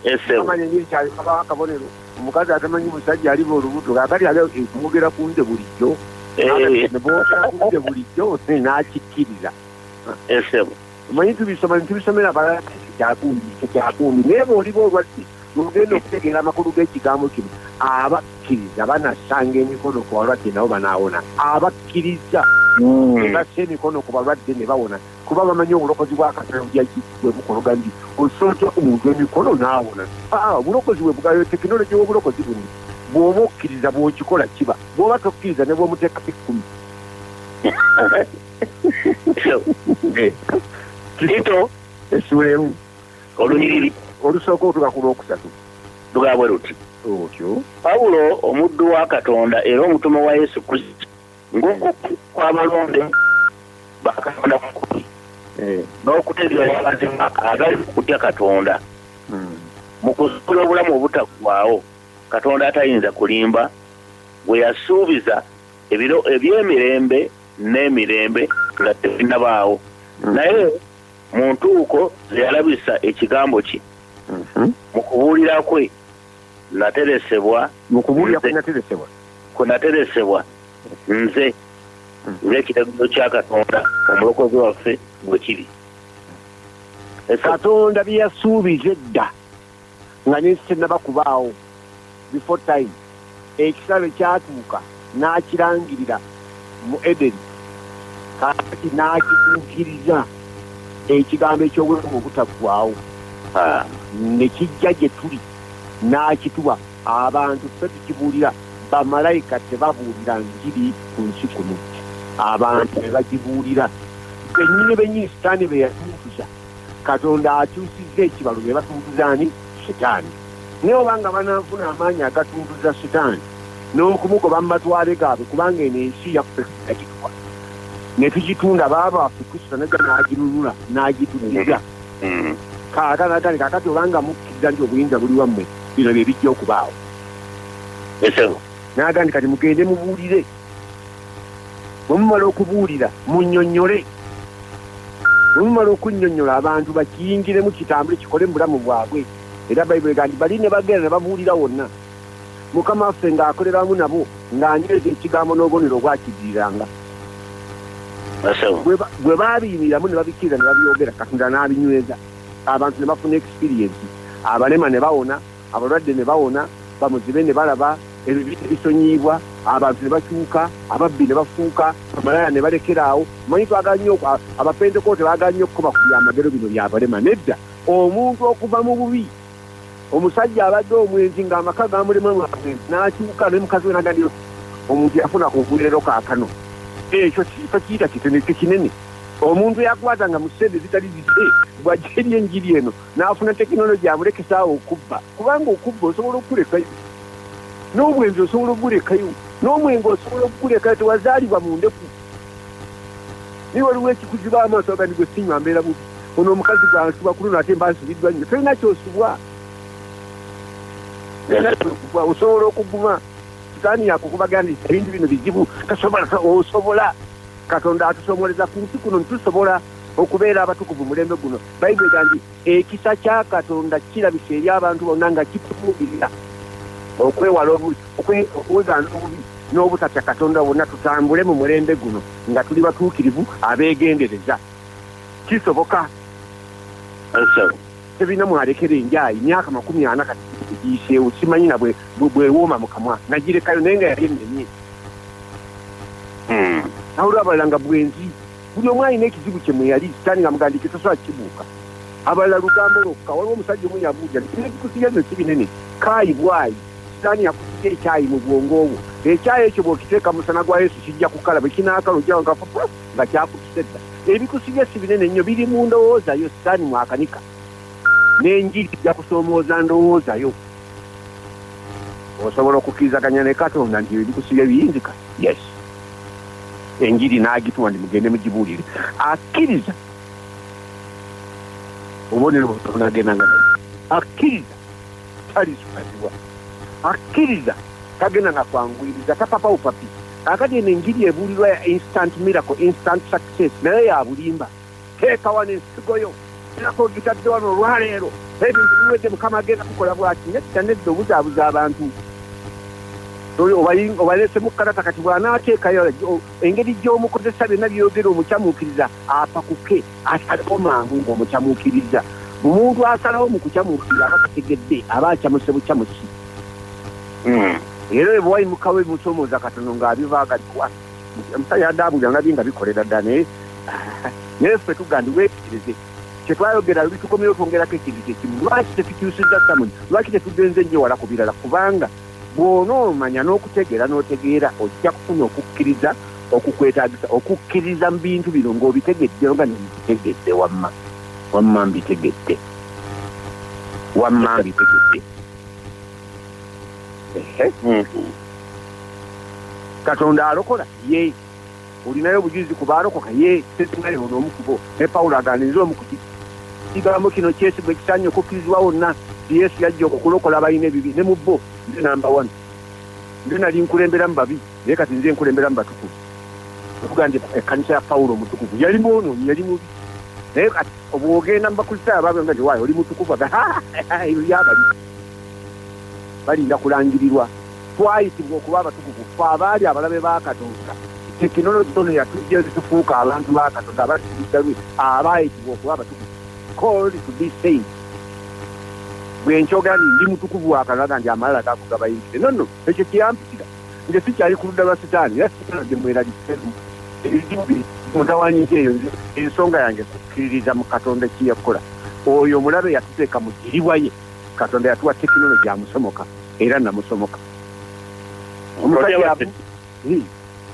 Esebo. Amanya nyiri kyali kaba akabonero. Omukazi atamanyi musajja ali bo olubuto kakati ali okumugera ku nze bulijjo. Eh. Ne bwogera ku nze bulijjo n'akikkiriza. Esebo. Omanyi tubisoma ne tubisomera balala kyakundi kyakundi naye bw'oliba olwadde Bwe mugenda okutegeera amakulu g'ekigambo kino, abakkiriza banassanga emikono ku balwadde nabo banaawona. Abakkirizza hmm. be bassa emikono ku balwadde ne bawona kuba bamanyi obulokozi bwa Katonda bwe bukologa nti osooja omuntu emikono n'awona. Ah, obulokozi bwe bugayo tekinologi w'obulokozi buno bw'oba okkiriza bw'okikola kiba bw'oba tokkiriza ne bw'omuteekako ekkumi. Tito, Tito, essuula emu. Olunyiriri olusooka okutuuka ku lw'okusatu lugaa bwe luti. Otyo. Pawulo omuddu wa Katonda era omutume wa Yesu Kristo ng'omu kw'abalonde ba Katonda kukuli eh. n'okutegeera amazima agali mu kutya Katonda hmm. mu kuzuula obulamu obutaggwaawo Katonda atayinza kulimba gwe yasuubiza ebiro eby'emirembe n'emirembe nga tebinnabaawo hmm. naye mu ntuuko ze yalabisa ekigambo kye mhm. mu kubuulira kwe nateresebwa mu kubuulira kwe nateresebwa kwe nateresebwa nze mhm. ng'ekiragiro kya katonda omulokozi waffe bwe kiri katonda bye yasuubiza edda nga n'ensi tennaba kubaawo, before time, ekiseera lwe kyatuuka n'akirangirira mu Edeni, kaakati n'akituukiriza, Ekigambo eky'Obulamu Obutaggwaawo, ha, ne kijja gye tuli, n'akituwa. Abantu, ffe tukibuulira, bamalayika tebabuulira Njiri ku nsi kuno, abantu be bagibuulira, bennyini bennyini Sitaani be yatuntuza. katonda akyusizza ekibalo ne batuntuza ani sitaani naye oba nga bananfuna amaanyi agatuntuza sitaani n'okumugoba mu matwale gaabwe kubanga eno ensi yakueagitwa ne tugitunda baaba waffe kristo naja n'agirunula n'agituliza mm. kaakanagali kakati obanga mukkiriza nti obuyinza buli wammwe bino bye bijja okubaawo n'agandi kati mugende mubuulire bwe mumala okubuulira munnyonnyole bwe mumala okunnyonnyola abantu bakiyingiremu kitambule kikole mu bulamu bwabwe era bayibuli ega nti bali ne bagenda ne babuulira wonna mukama waffe ng'akolera wamu nabo ng'anyweza ekigambo n'obubonero obwakidiriranga bwe baabiyimiramu ne babikkiriza ne babyogera katonda n'abinyweza abantu ne bafuna ekisiriyensi abalema ne bawona abalwadde ne bawona, bamuzibe ne balaba, ebibi ne bisonyiyibwa, abantu ne bakyuka, ababbi ne bafuuka bamalaaya ne balekera awo. Mmanyi twagala nnyo, Abapentekoote baagala nnyo okukoba ku byamagero bino bya balema. Nedda, omuntu okuva mu bubi. Omusajja abadde omwenzi ng'amaka gamulema lwa bwenzi, n'akyuka ne mukazi we n'agamba nti, Omuntu yafuna obuweerero kaakano. Ekyo tokiyita kitono, ekyo kinene. Omuntu eyakwatanga mu ssente ezitali zize, bw'ajja eri Enjiri eno, n'afuna tekinologi amulekesaawo okubba kubanga okubba osobola okukulekayo n'obwenzi osobola okugulekayo n'omwenge osobola okukulekayo tewazaalibwa mu ndeku naye waliwo ekikuziba amaaso agandi gwe sinywa mbeera bubi ono omukazi gwansiba ku luno ate mba nsibiddwa nnyo tolina kyosubwa nayenaokubwa osobola okuguma sitaani yakukubagandi ebintu bino bizibu tasobola osobola katonda atusomoleza ku nsi kuno nitusobola okubeera abatukuvu mulembe guno Baibuli egamba nti ekisa kya Katonda kirabise eri abantu bonna nga kitufuukirira okwewala obubi okuwegaana obubi n'obutatya Katonda wonna tutambule mu mulembe guno nga tuli batuukirivu abeegendereza kisoboka tebirina mwalekera enjaayi myaka makumi ana kati egiyiseewo simanyi na bwewooma mu kamwa nagirekayo naye nga yali ennenye hmm. nawulwa abalala nga bwenzi buli omu alina ekizibu kye mweyali sitaani nga mugandi kitasobola kibuuka abalala lugambo lwokka waliwo omusajja omu yabuuja nebikusiya ezo si binene kaayi bwayi sitaani yakusiya ekyayi mu bwongo obwo ekyayi ekyo bwokiteeka musana gwa yesu kijja kukala bwe kinaakala ojja wagafufu nga kyakutuse dda ebikusiya si binene nnyo biri mu ndowooza yo sitaani mwakanika n'enjiri ijja kusoomooza ndowooza yo osobola okukirizaganya ne katonda nti ebikusiya biyinzika yes enjiri n'agituwa ndi mugende mugibuulire akkiriza obubonero bwonagenda nga akkiriza talizukazibwa akkiriza tagenda na kwanguyiriza tapapawo papi kakati eno enjiri ebuulirwa ya instant miracle instant success naye yabulimba teeka wano ensigo yo erako ogitadde wano olwaleero ebintu biwedde mukama agenda kukola bwati nedda nedda obuzaabuza abantu obalesemu kalata kati bwanaateekayo engeri gy'omukozesa byonna byogera omukyamuukiriza apakuke asalewo mangu ng'omukyamuukiriza omuntu asalawo mu kukyamuukiriza aba tategedde aba akyamuse bukyamusi hmm. era ebwayimukawo ebimusomooza katono ng'abivaagaddwa omusa yadaabulira nabye nga bikolera dda naye ah, naye ffe tugandi weekirize kyetwayogera bitukomyewo twongerako ekintu kyekimu lwaki tetukyusiza samuni lwaki tetugenze nnyo wala ku birala kubanga bw'onoomanya n'okutegeera n'otegeera ojja kufuna okukkiriza okukwetagisa okukkiriza mu bintu bino ng'obitegedde nga nembitegedde wamma wamma mbitegedde wamma mbitegedde Ehe. Mm. katonda alokola ye olinayo obujulizi ku baalokoka ye tetunaye ono omu kubo ne pawulo agamba nze omu kuti kigambo kino kyesigo ekisanye okukkirizibwa wonna nti yesu yajja okulokola abalina ebibi ne mu bo nze namba one nze nali nkulembera mu babi naye kati nze nkulembera mu batukuvu okuga nti ekkanisa ya pawulo omutukuvu yali mwonoonyi yali mubi naye kati obwogenda mu bakristaayo abaabwe nga nti waayo oli mutukuvu aga yabali balinda kulangirirwa twayitibwa okuba abatukuvu fe abaali abalabe ba katonda tekinologi ono yatujja ezitufuuka abantu ba katonda abasiddalu abaayitibwa okuba abatukuvu called to be saint bwe nkyogera nti ndi mutukuvu wakalaga nti amalala gakugabayingize nonno ekyo kyeyampitira nge sikyali ku ludda lwa sitaani era sitaani gye mweraliseemu ebizibu bi mutawanyiza eyo ensonga yange kukkiririza mu katonda kye yakola oyo omulabe yatuteeka mu kiribwa ye katonda yatuwa tekinologi amusomoka era namusomoka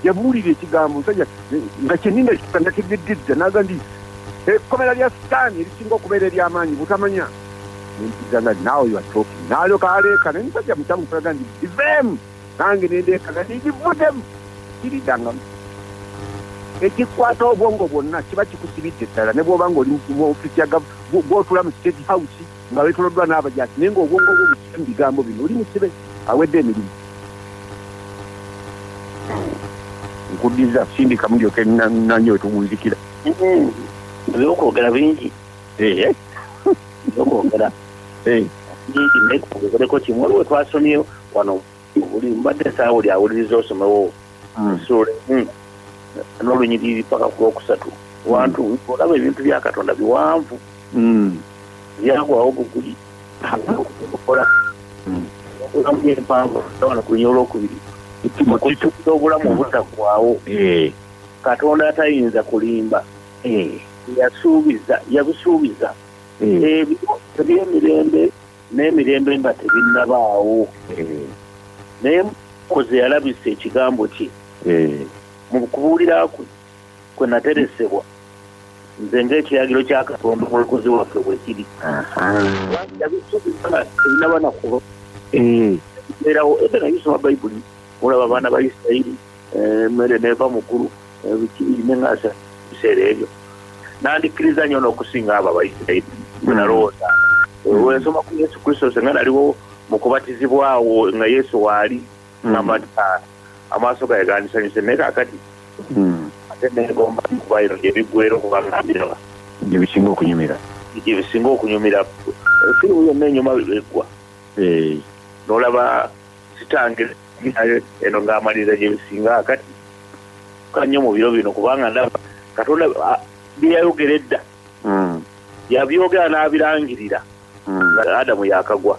yabuulira ekigambo musajja nga kyenina kanategeddedda naga ndi ekkomera lya sitaani erisinga okubeera eryamaanyi butamanya nempigana nawe yatoki nalyoka aleeka naye musajja mutamu kulaga ndi biveemu nange nendeekaga nindivudemu kiridangamu ekikwata obwongo bwonna kiba kikusibidde ddala ne bwoba nga oli mu ofisi gwotula mu state house nga wetoloddwa n'abajaasi naye ng'obwongo bwo bukimu bigambo bino oli musibe awedde emirimu nkuddiza sindika mulyoke nanyo wetugunzikira ebyokwogera bingi ebyokwogera bingi naye kugereko kimu waliwo twasomye wano buli mbadde esaawa oli awuliriza osomewo ensuula hmm. emu hmm. n'olunyiriri paka ku lwokusatu hmm. wantu olaba ebintu bya katonda biwanvu byagwawo buguli okola obulamu empanvu wano kulinya olwokubiri okutukuza obulamu obutagwawo eh. katonda atayinza kulimba eh. yasuubiza yabusuubiza eh. ebyemirembe n'emirembe nga tebinnabaawo eh. naye koze yalabisa ekigambo kye eh. mu kubuulira kwe kwe nateresebwa nze ng'ekiragiro kya katonda omulokozi waffe bwe kiri ebinaba nakuba eh. erawo ete nayisoma bayibuli olaba abaana ba isirayiri emmere neeva mukulu neŋasa ebiseera ebyo nandikkiriza nyo n'okusinga abo abaisirairi bwenalowooza hmm. wensoma ku yesu kristo senga naliwo mu kubatizibwawo nga yesu waali hmm. namata amaaso gaye gandisanyuse naye kakati hmm. ate negomba kubairo gyebiggwera okubagambirwa gyebisinga okunyumira gyebisinga okunyumira firimu yonna enyuma byeggwa eh. nolaba kitange nayo eno ng'amaliriza gye bisinga akati ka nnyo mu biro bino kubanga ndaba katonda byeyayogera edda hmm. yabyogera n'abirangirira hmm. nga adamu yakagwa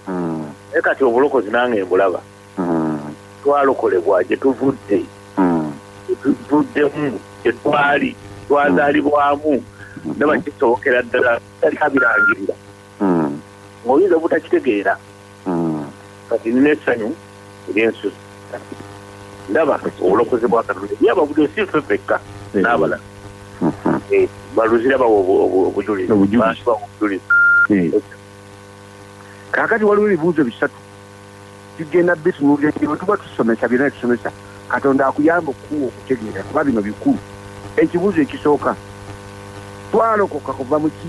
hmm. naye kati obulokozi nange mbulaba twalokolebwa gye tuvudde tuvuddemu gye twali twazaalibwamu ndaba kisobokera ddala tali abirangirira ng'oyinza obutakitegeera hmm. kati nina essanyu eryensusa ndaba obulokozi bwa katonda ye ababudo si ffe fekka hmm. n'abala hmm. eh, baluzira bawa obujulizi kakati waliwo ebibuuzo bisatu tugenda bitunuulira nti bwe tuba tusomesa byonna tusomesa katonda akuyamba okukuwa okutegeera kuba bino bikulu ekibuuzo ekisooka twalokoka kuva mu ki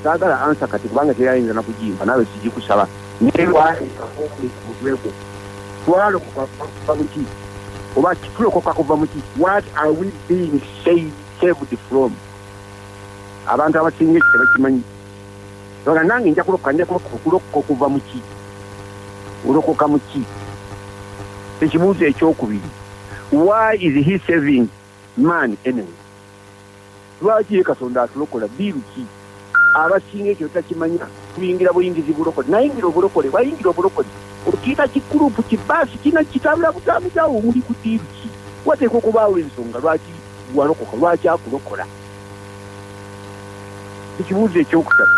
saagala ansa kati kubanga teyayinza nakugimba naawe kigikusaba newaaeaokumutwegwo twalokoka kuva mu ki oba tulokoka kuva mu ki what are we being saved from abantu abasinga ekitebakimanyi ola nange nja kulokoka nja kulokoka okulokoka okuva mu ki olokoka mu ki ekibuuzo ekyokubiri why is he saving man anyway lwaki ye katonda atulokola biiru ki abasinga ekyo takimanya kuyingira buyingizi bulokole nayingira obulokole wayingira obulokole okiika kikurupu kibaasi kina kitambula butambuzaawo omuli ku diiru ki wateeka okubaawo ensonga lwaki walokoka lwaki akulokola ekibuuzo ekyokusatu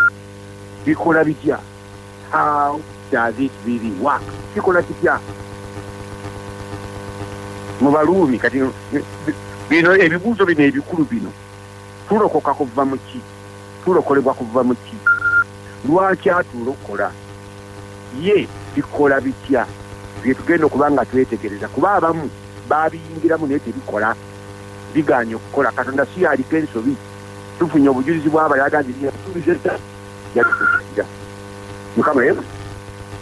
bikola bitya how does it really work kikola kitya mu baluumi kati bino ebibuuzo bino ebikulu bino tulokoka kuva mu ki tulokolebwa kuva mu ki lwaki atulokola ye bikola bitya byetugenda okuba nga twetegereza kuba abamu babiyingiramu naye tebikola bigaanye okukola katonda si yaliko ensobi tufunye obujulizi bwabala aga nti yasuubiza edda yatuira mukama emu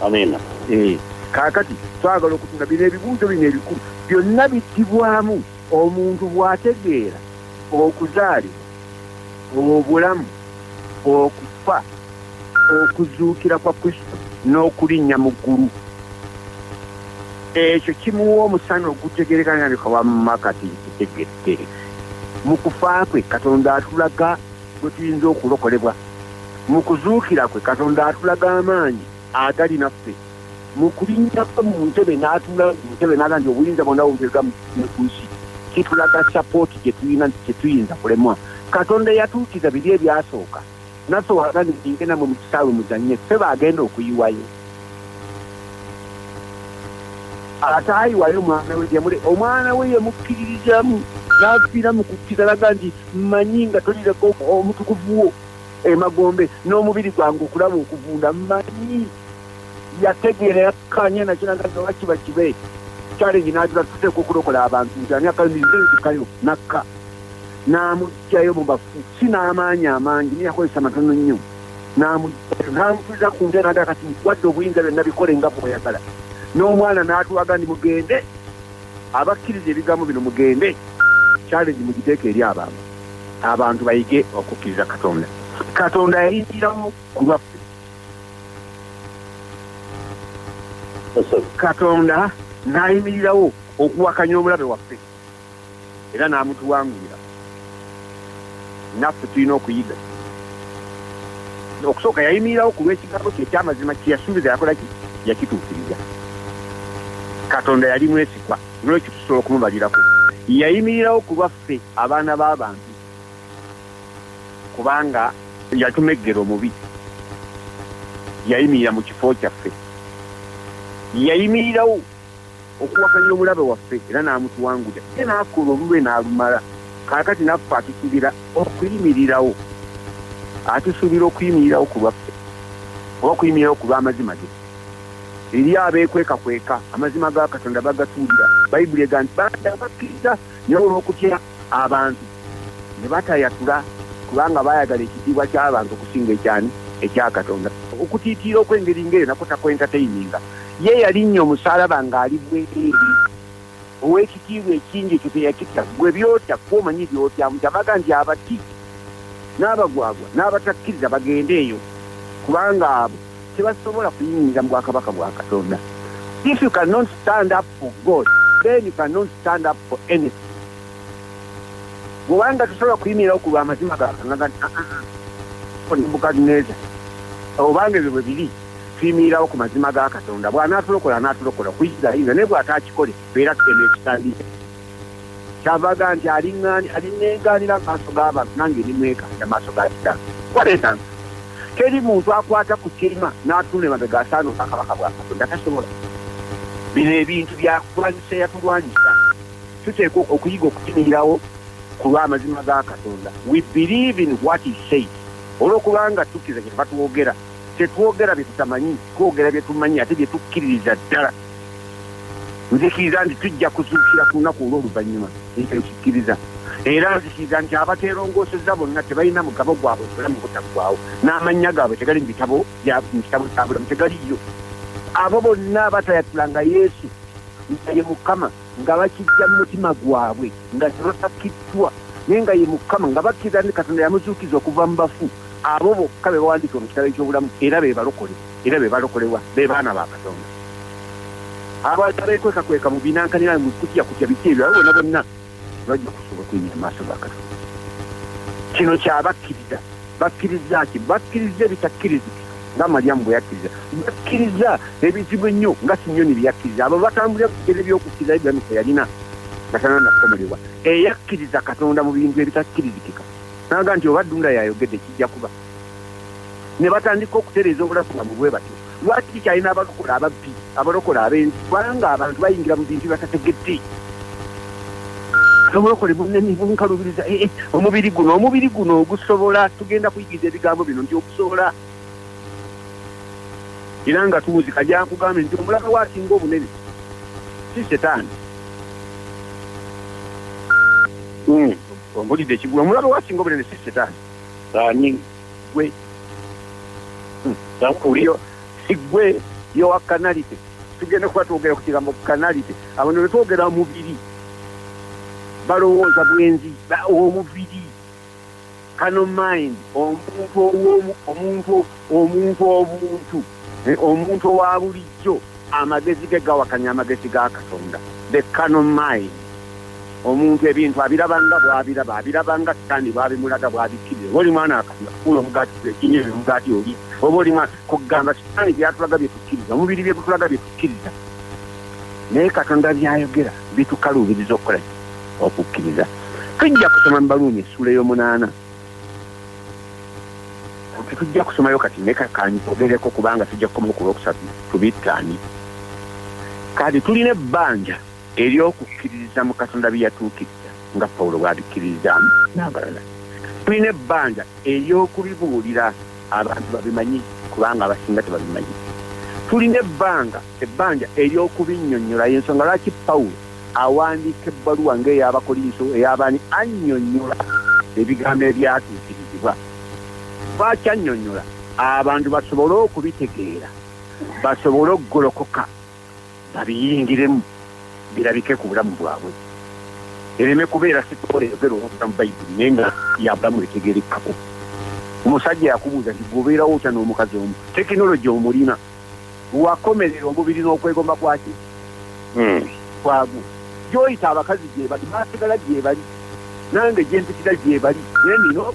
amiina eh, kaakati twagala okutunda bino ebibuuzo bino ebikulu byonna bittibwamu omuntu bw'ategeera okuzaalibwa obulamu okufa okuzuukira kwa kristo n'okulinnya mu ggulu ekyo kimuwa omusana ogutegerekana nabika wamumakati kitegedde mu kufa kwe katonda atulaga bwe tuyinza okulokolebwa mu kuzuukira kwe katonda atulaga amaanyi agali naffe mu kulinnya kwe mu ntebe n'atuula mu ntebe n'aga nti obuyinza bwonna bumpeebwa mu nsi kitulaga sapooti gye tulina nti tetuyinza kulemwa katonda eyatuukiza biri ebyasooka naffe wagani ninge namwe mu kisaawe muzanye ffe baagenda okuyiwayo ate ayiwayo omwana we gyemule omwana we yemukkiririzamu n'afiira mu kukkiriza laga nti mmanyi nga tolireko omutukuvuwo emagombe n'omubiri gwange okulaba okuvunda mmanyi yategeera yakkaanya nakiraga nti oba kiba kibe challenge n'agira tuteeka okulokola abantu nti ani akalumize nzikayo nakka n'amugjayo mu bafu si n'amaanyi amangi naye yakozesa matono nnyo n'amugjayo n'amutuliza ku nte naga kati wadde obuyinza byonna bikole nga bweyagala n'omwana n'atulaga ndi mugende abakkiriza ebigambo bino mugende challenge mugiteeka eri abantu abantu bayige okukkiriza katonda katonda yayingiramu ku lwaffe katonda n'ayimirirawo okuwakanya omulabe waffe era n'amutuwangulira naffe tulina okuyiga okusooka yayimirirawo ku lw'ekigambo kye ekyamazima kyeyasuubiza yakola ki yakituukiriza katonda yali mwesigwa nolwekyo tusobola okumubalirako yayimirirawo ku lwaffe abaana b'abantu kubanga yatumeggera omubi yayimirira mu kifo kyaffe yayimirirawo okuwakanya omulabe waffe era n'amutuwanguda ye n'akola olulwe n'alumala kaakati naffe atusuubira okuyimirirawo atusuubira okuyimirirawo ku lwaffe oba okuyimirirawo ku lw'amazima ge eri abeekwekakweka amazima ga katonda bagatuulira bayibuli ega nti banda bakkiriza naye olw'okutya abantu ne batayatula kubanga baayagala ekitiibwa ky'abantu okusinga ekyani ekya Katonda. Okutiitiira okw'engeri ng'eyo nakwo takwentateyininga. Ye yalinnya omusaalaba ng'ali bwereere, ow'ekitiibwa ekingi, ekyo teyakitya. Ggwe by'otya, ggwe omanyi by'otya? Mutamaga nti abati, n'abagwagwa, n'abatakkiriza bagende eyo, kubanga abo. tebasobola kuyingira mu bwakabaka bwa katonda if you cannot stand up for god then you cannot stand up for anything bwobanga tosobola kuyimirirawo ku lwamazima gakanebukadneza ah, ah, ah, obanga ebyo bwe biri tuyimirirawo ku mazima ga katonda bw'anaatulokola anaatulokola kuyisirayinza naye bw'ataakikole beera tugenda ekitandika kyavaga nti alinenganira amaaso g'abantu nange nimwekanja maaso ga kitano kwaletanga teri muntu akwata ku kirima n'atunda emabega asaana obwakabaka bwa katonda tasobola bino ebintu byakulwanyisa yatulwanyisa tuteekwa okuyiga okukimirirawo ku lw'amazima ga katonda we believe in what he says olw'okubanga tukkiriza kye tuba twogera tetwogera bye tutamanyi twogera bye tumanyi ate bye tukkiririza ddala nzikiriza nti tujja kuzuukira ku lunaku olw'oluvannyuma ekyo nkikkiriza era nzikiriza nti abateerongoosezza bonna tebalina mugabo gwabwe obulamu butaggwawo n'amannya gaabwe tegali mu bitabo mu kitabo kya bulamu tegaliyo abo bonna abatayatula nga yesu nga ye mukama nga bakijja mu mutima gwabwe nga tebasakiddwa naye nga ye mukama nga bakkiriza nti katonda yamuzuukiza okuva mu bafu abo bokka be bawandiika mu kitabo eky'obulamu era be balokole era be balokolebwa be baana ba katonda abantu abekwekakweka mu binankanira mu kutya kutya biki ebyo bona bonna bajja kusobola okuyinya amaaso ga katonda kino kyabakkiriza bakkiriza ki bakkiriza ebitakkirizika nga malyamu bwe yakkiriza bakkiriza ebizibu ennyo nga sinyoni bye yakkiriza abo batambulira kugere byokukkiriza ibulamu kwe yalina nga tananakomolebwa eyakkiriza katonda mu bintu ebitakkirizikika naga nti oba ddunda yayogedde kijja kuba ne batandika okutereeza obulafu bwabwe bwe batyo lwaki kikyalina abalokola ababbi abalokola abenzi kubanga abantu bayingira mu bintu batategedde obulokole bunene bunkalubiriza eh, eh, omubiri guno omubiri guno ogusobola tugenda kuyigiriza ebigambo bino nti okusobola era nga tuwuzi kajankugambye nti omulaka wasinga obunene si setaani hmm. ombulidde ekigula omulaka wasinga obunene si setaani ani gwe nakuliyo hmm. sigwe yowa kanalite tugenda kuba twogera ku kigambo kanalite abantu betwogera mubiri balowooza bwenzi omubiri kano mind omuntu owomu omuntu Omuntu obuntu, omuntu owa bulijjo, amagezi ge gawakanya amagezi ga Katonda, the carnal mind. Omuntu ebintu abiraba nga bw'abiraba, abiraba nga Sitaani bw'abimulaga, bw'abikkiriza. Oba oli mwana wa Katonda, kuula omugaati, ekinya ebyo omugaati oli. Oba oli mwana, kugamba Sitaani bye yatulaga bye tukkiriza, omubiri bye gutulaga bye tukkiriza. Naye Katonda by'ayogera bitukaluubiriza okukola ki? Okukkiriza. Tujja kusoma mu Baruumi essuula ey'omunaana. tetujja kusomayo kati neka kanyogereko kubanga tujja kukomayo ku lwokusatu tubittaani kati tulina ebbanja eryokukkiririza mu katonda byeyatuukiriza nga pawulo bwabikkiririzaamu n'abalala tulina ebbanja eryokubibuulira abantu babimanyi kubanga abasinga tebabimanyi tulina ebbanga ebbanja eryokubinyonnyolayo ensonga lwaki pawulo awandiika ebbaluwa ng'ey'Abakolinso ey'abaani annyonnyola ebigambo ebyatuukirizibwa. Lwaki annyonnyola? Abantu basobole okubitegeera, basobole okugolokoka babiyingiremu birabike ku bulamu bwabwe, ereme kubeera sitoola eyogera olw'obulamu Bayibuli naye nga ya bulamu etegeerekekako. Omusajja yakubuuza nti, Gwe obeerawo otya n'omukazi omu? Tekinologi omulina? wakomerera omubiri n'okwegomba kwaki hmm. kwagu gyoyita abakazi gyebali basigala gyebali nange gyempitira gyebali naye nino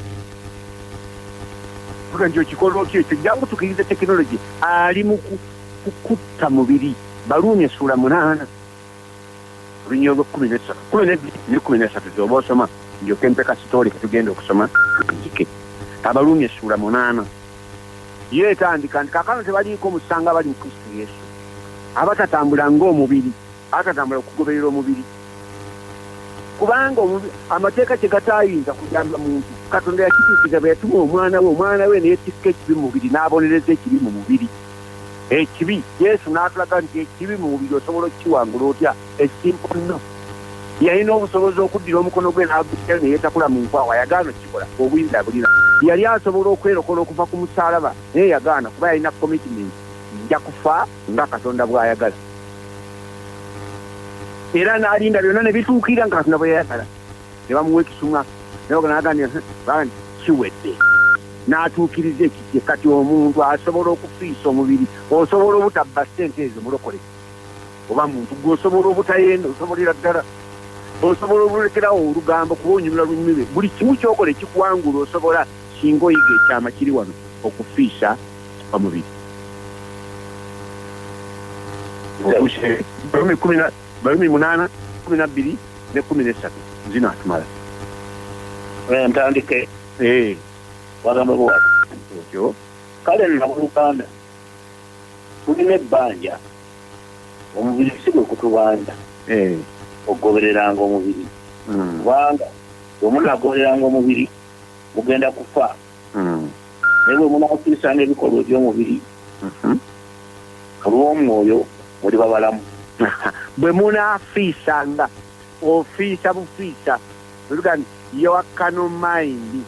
nga nti okikola otya ekyo jangu tukirize tekinologi ali mu kukutta mubiri baluumi essuula munaana olunyiro lwekumi nesatu kumi nebiri nekumi nesatu zoba osoma njoke mpeka sitoole ketugenda okusoma nzike abaluumi essuula munaana Yo etandika nti kakano tebaliiko musango abali mu Kristo Yesu, abatatambula ng'omubiri, abatatambula kugoberera omubiri. Kubanga amateeka kye gataayinza kuyamba muntu, Katonda yakituukiriza bwe yatuma omwana we, omwana we ne yeetikka ekibi mu mubiri n'abonereza ekibi mu mubiri. Ekibi, Yesu n'atulaga nti ekibi mu mubiri osobola okukiwangula otya. ekimponno yalina obusobozi okuddira omukono gwe n'agutya ne yeetakula mu nkwawa yagaana okukikola obuyinza abulina yali asobola okwerokola okuva ku musaalaba naye yagaana kuba yalina commitment nja kufa nga katonda bw'ayagala era n'alinda byonna ne bituukira nga katonda bwe yayagala ne bamuwa ekisumwa nayeganagambye bani kiwedde n'atuukiriza ekikye kati omuntu asobola okufiisa omubiri osobola obutabba ssente ezo mulokole oba muntu gwe osobola obutayenda osobolera ddala osobola olulekerawo olugambo kuba onyumira lunyumire buli kimu kyokola ekikuwangula osobola singa oyiga ekyama kiri wano okufiisa omubiri balumi munaana kumi nabbiri ne kumi nesatu zino atumala ntandike eh. wagamba bwati kale nabuluganda tulina ebbanja omubiri si gwe kutubanja eh. okugobereranga omubiri hmm. kubanga bwe munaagobereranga omubiri mugenda kufa hmm. naye bwe munaakukirisanga ebikolwa eby'omubiri mhm. olw'omwoyo muli babalamu bwe munaafiisanga ofiisa bufiisa Luga nti your carnal mind,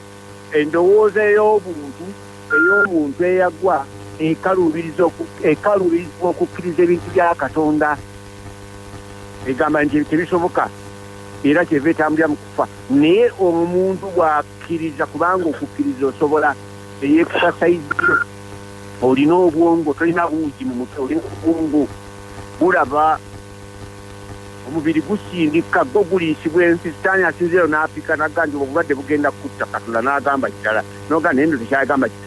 endowooza ey'obuntu ey'omuntu eyagwa ekaluubiriza oku- ekaluubirizibwa okukkiriza ebintu bya Katonda egamba nti ebyo tebisoboka era kyeva etambulira mu kufa naye omuntu bw'akkiriza kubanga okukkiriza osobola eyekusasayizi olina obwongo tolina buugi mu mutwe olina obwongo bulaba Omubiri gusindika, gwo guliisibwa ensi. Sitaani asinziira eyo n'apika, n'agamba nti, Obulwadde bugenda kukutta. Katonda n'agamba kirala. N'ogamba, Naye nno tekyagamba ki,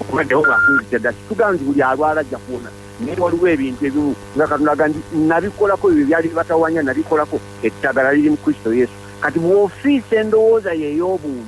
obulwadde bwo bwakunzijja dda. Situgamba nti buli alwala ajja kuwona. Naye waliwo ebintu ebimu, nga Katonda agamba nti, Nnabikolako, ebyo ebyali bibatawaanya nnabikolako, eddagala liri mu Kristo Yesu. Kati bw'ofiisa endowooza yo ey'obuntu,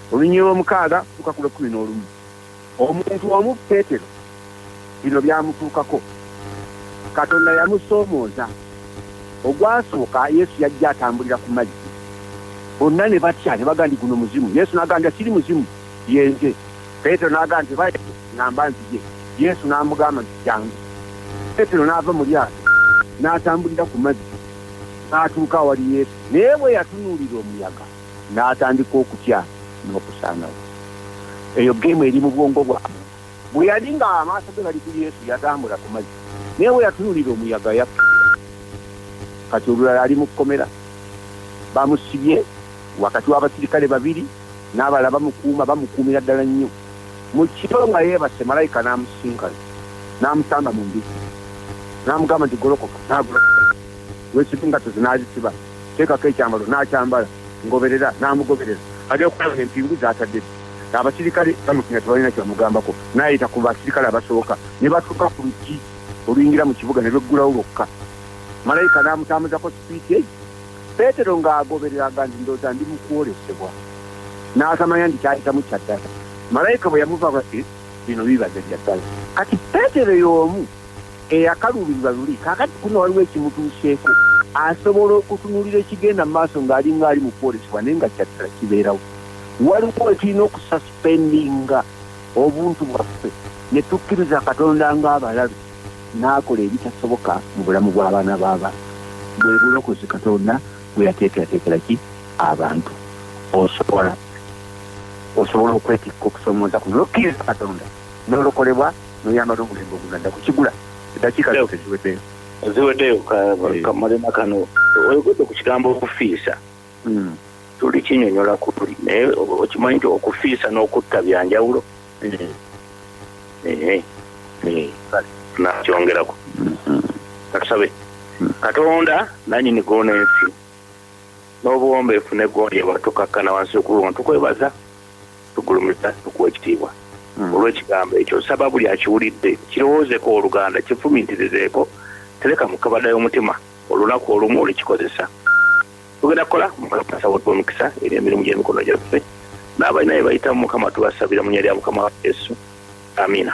Olunyiriri lw'omukaaga okutuuka ku lw'ekkumi n'olumu, omuntu omu, Peetero, bino byamutuukako. Katonda yamusoomooza. Ogwasooka, Yesu yajja atambulira ku mazzi. Bonna ne batya, ne bagamba nti, Guno muzimu. Yesu n'agamba nti, Siri muzimu, ye Nze. Peetero n'agamba nti, Oba ekyo, ŋŋamba nzije. Yesu n'amugamba nti, Jjangu. Peetero n'ava mu lyato, n'atambulira ku mazzi, n'atuuka awali Yesu. Naye bwe yatunuulira omuyaga. n'atandika okutya n'okusaanawo. Eyo ggeemu eri mu bwongo bwabwe. Bwe yali ng'amaaso ge gali ku Yesu, yatambula ku mazzi, naye bwe yatunuulira omuyaga, yakkirira. Kati olulala ali mu kkomera. Bamusibye wakati w'abasirikale babiri, n'abalala bamukuuma, bamukuumira ddala nnyo. Mu kiro nga yeebase, malayika n'amusisinkana, n'amusamba mu mbizzi, n'amugamba nti, Golokoka. N'agolokoka. Weesibe engatto zo, n'azisiba. teekako ekyambalo n'akyambala, ngoberera, n'amugoberera. Ajja okulaba ng'empingu z'atadde ddi. Abasirikale bamutya nga tebalina kye bamugambako, n'ayita ku basirikale abasooka, ne batuuka ku luggi oluyingira mu kibuga ne lweggulawo lwokka. Malayika n'amutambuzako sipiidi ey. Peetero ng'agoberera agamba nti, Ndowooza ndi mu kwolesebwa. N'atamanya nti ky'ayitamu kya ddala. Malayika bwe yamuvaako, yaddamu nti, Eh, bino bibaze bya ddala. Kati Peetero y'omu. eyakaluubirirwa luli, kaakati kuno waliwo ekimutuuseeko, asobola okutunuulira ekigenda mu maaso ng'alinga ali mu kwolesebwa naye nga kya ddala kibeerawo. Waliwo we tulina okusaspendinga obuntu bwaffe ne tukkiriza Katonda ng'abalabe n'akola ebitasoboka mu bulamu bw'abaana b'abantu. Bwe bulokozi Katonda bwe yateekerateekera ki abantu. Osobola osobola okwetikka okusoomooza kuno n'okkiriza Katonda. nolokolebwa noyambala omulembe oguganda kukigula eddakiika zo teziweddeyo ziweddeyo eh. kamulema kano oyogedde ku kigambo okufiisa hmm. tuli kinyonyola kuli naye okimanyi nti okufiisa n'okutta byanjawulo hmm. eh. Eh. nakyongerako hmm. katusabe katonda nanyini gona ensi n'obuwombeefu ne gonja bwatukakkana wansi okubiwona tukwebaza tugulumiza tukuwa ekitiibwa hmm. olw'ekigambo ekyo nsaba buli akiwulidde kirowoozeko oluganda kifumintirizeeko tereka mukabada y'omutima olunaku olumu olukikozesa tugenda kukola mukasawo twomukisa eri emirimu gy'emikono gyaffe n'abalina bye bayitamu mukama tubasabira mu nya lya mukama wa yesu amiina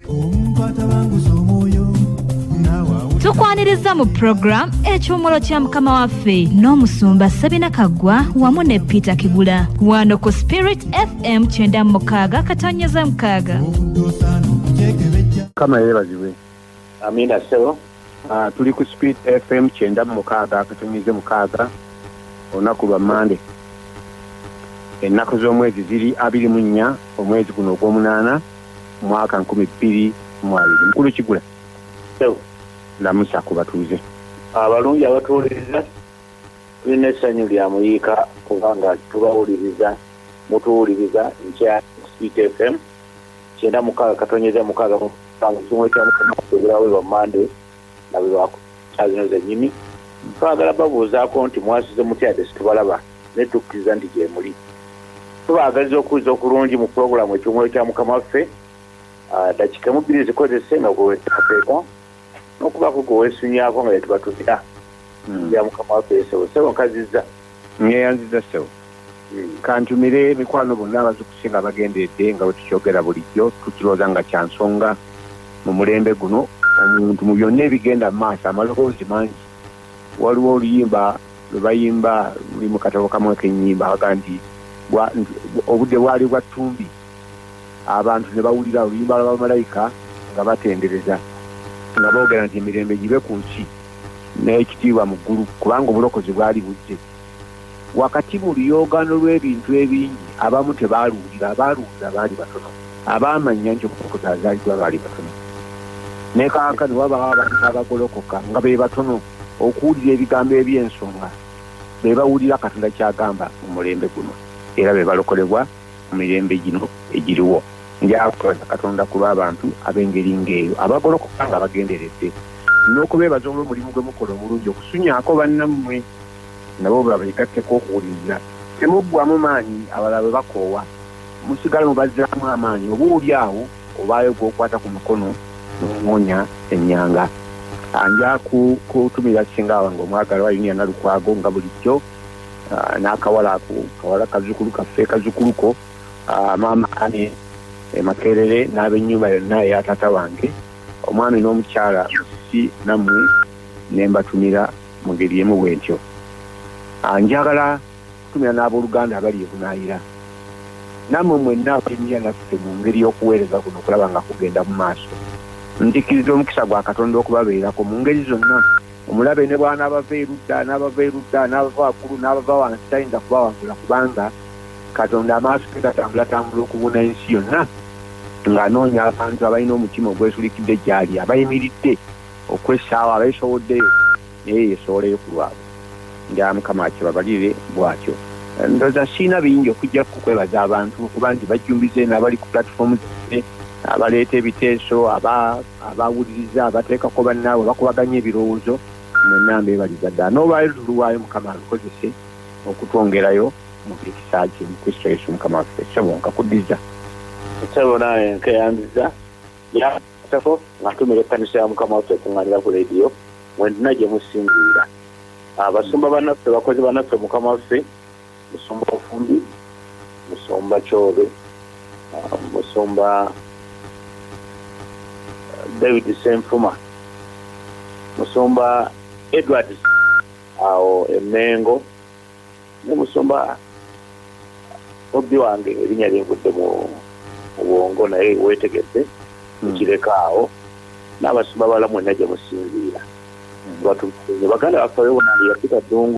tukwanirizza mu puroguramu ekyumulo kya mukama waffe n'omusumba sabina kaggwa wamu ne peter kigula wano ku spirit fm kyenda mu mukaaga katonyeza mukaaga kama yeebazibwe amiina sebo Ah, tuli ku speed fm kyenda mu mukaaga akatumize mukaaga olunaku lwa mande ennaku z'omwezi ziri abiri mu nnya omwezi guno ogw'omunaana mwaka nkumi bbiri mu abiri mukulu kigula lamusa ku batuuze abalungi abatuwuliriza tulina essanyu lya muyiika kubanga tubawuliriza mutuwuliriza nkya speed fm kyenda mukaaga katonyeza mukaaga mukaaga kimwekyamukamukubeerawo lwa mande nga bebakukyaazino zenyini twagala babuuzaako nti mwasize mutyade situbalaba naye tukkiriza nti gyemuli tubaagaliza okuwuliza okulungi mu pulogulaamu ekyomwoyo kya mukama waffe ah, dakika mu bbiri zikozese nga gwewetateeka nokubaako gwe wesunyako nga yetubatumira hmm. ya mukama waffe esebo sebo nkaziza ngeyanziza sebo hmm. kantumire emikwano bonna abazikusinga bagenderedde nga bwetukyogera bulijjo tukirooza nga kyansonga mu mulembe guno omuntu mu byonna ebigenda mu maaso amaloboozi mangi waliwo oluyimba lwebayimba luli mu katabo kamu akenyimba aga nti obudde bwali bwa ttumbi abantu ne bawulira oluyimba lwa bamalayika nga batendereza nga boogera nti emirembe gibe ku nsi n'ekitiibwa mu ggulu kubanga obulokozi bwali bujje wakati mu luyogaano lw'ebintu ebingi abamu tebaaluwulira abaaluwulira baali batono abaamanya nti obulokozi azaaliddwa baali batono ne kaaka ne wabawo abantu abagolokoka nga be batono okuwulira ebigambo eby'ensonga be bawulira katonda ky'agamba mu mulembe guno era be balokolebwa mu mirembe gino egiriwo njakwebaza katonda ku lw'abantu ab'engeri ng'eyo abagolokoka nga bagenderedde n'okubeebaza olw'omulimu gwe mukola omulungi okusunyaako bannammwe nabo babegatteko okuwuliriza temuggwamu maanyi abalala bwe bakoowa musigala mubazzaamu amaanyi oba oli awo obaayo gwokwata ku mukono nomuwonya ennyanga anja kutumira singa wange omwagalwa yuniana lukwago nga bulijjo ah, n'akawala ako kawala kazukulu kaffe kazukuluko ah, maama ani emakerere eh, n'abenyumba yonna eya taata wange omwami n'omukyala musisi nammwe ne mbatumira mu ngeri emu bwentyo ah, njagala kutumira n'abooluganda abali ebunaayira nammwe mwenna abainira naffe mu ngeri y'okuweereza kuno okulaba nga kugenda mu maaso nzikiriza omukisa gwa katonda okubabeerako mu ngeri zonna omulabe ne bwanaabava erudda n'abava erudda n'abava waggulu n'abava wansi tayinza kubawangula kubanga katonda amaaso ge gatambulatambula okubuna ensi yonna ng'anoonya abantu abalina omutima ogwesulikidde gyali abayimiridde okwessaawo abeesowoddeyo naye yesooleyo ku lwabwe nga mukama akibabalire bwatyo ndoza siina bingi okujja kukwebaza abantu kuba nti bajjumbize n'abali ku platifoomu zaffe abaleeta ebiteeso aba abawuliriza abateekako bannaabwe bakubaganya ebirowoozo mwenna mbeebaliza ddala n'olwaleero tuluwaayo mukama alukozese okutwongerayo mu kisa kye mu kristo yesu mukama waffe ssebo nkakuddiza ssebo naawe nkeyanziza yasako ngatumira ekkanisa ya mukama waffe ekuŋŋanira ku leediyo mwenna gye musinziira abasumba banaffe bakozi banaffe mukama waffe musumba ofumbi musumba kyobe uh, musumba uh, david senfuma musumba edward awo emengo ne musumba obbi wange erinya lyengudde mu bwongo naye wetegedde hmm. ekireka awo n'abasumba bala mwena gye musinziira hmm. baganda baffe yona yafika dungu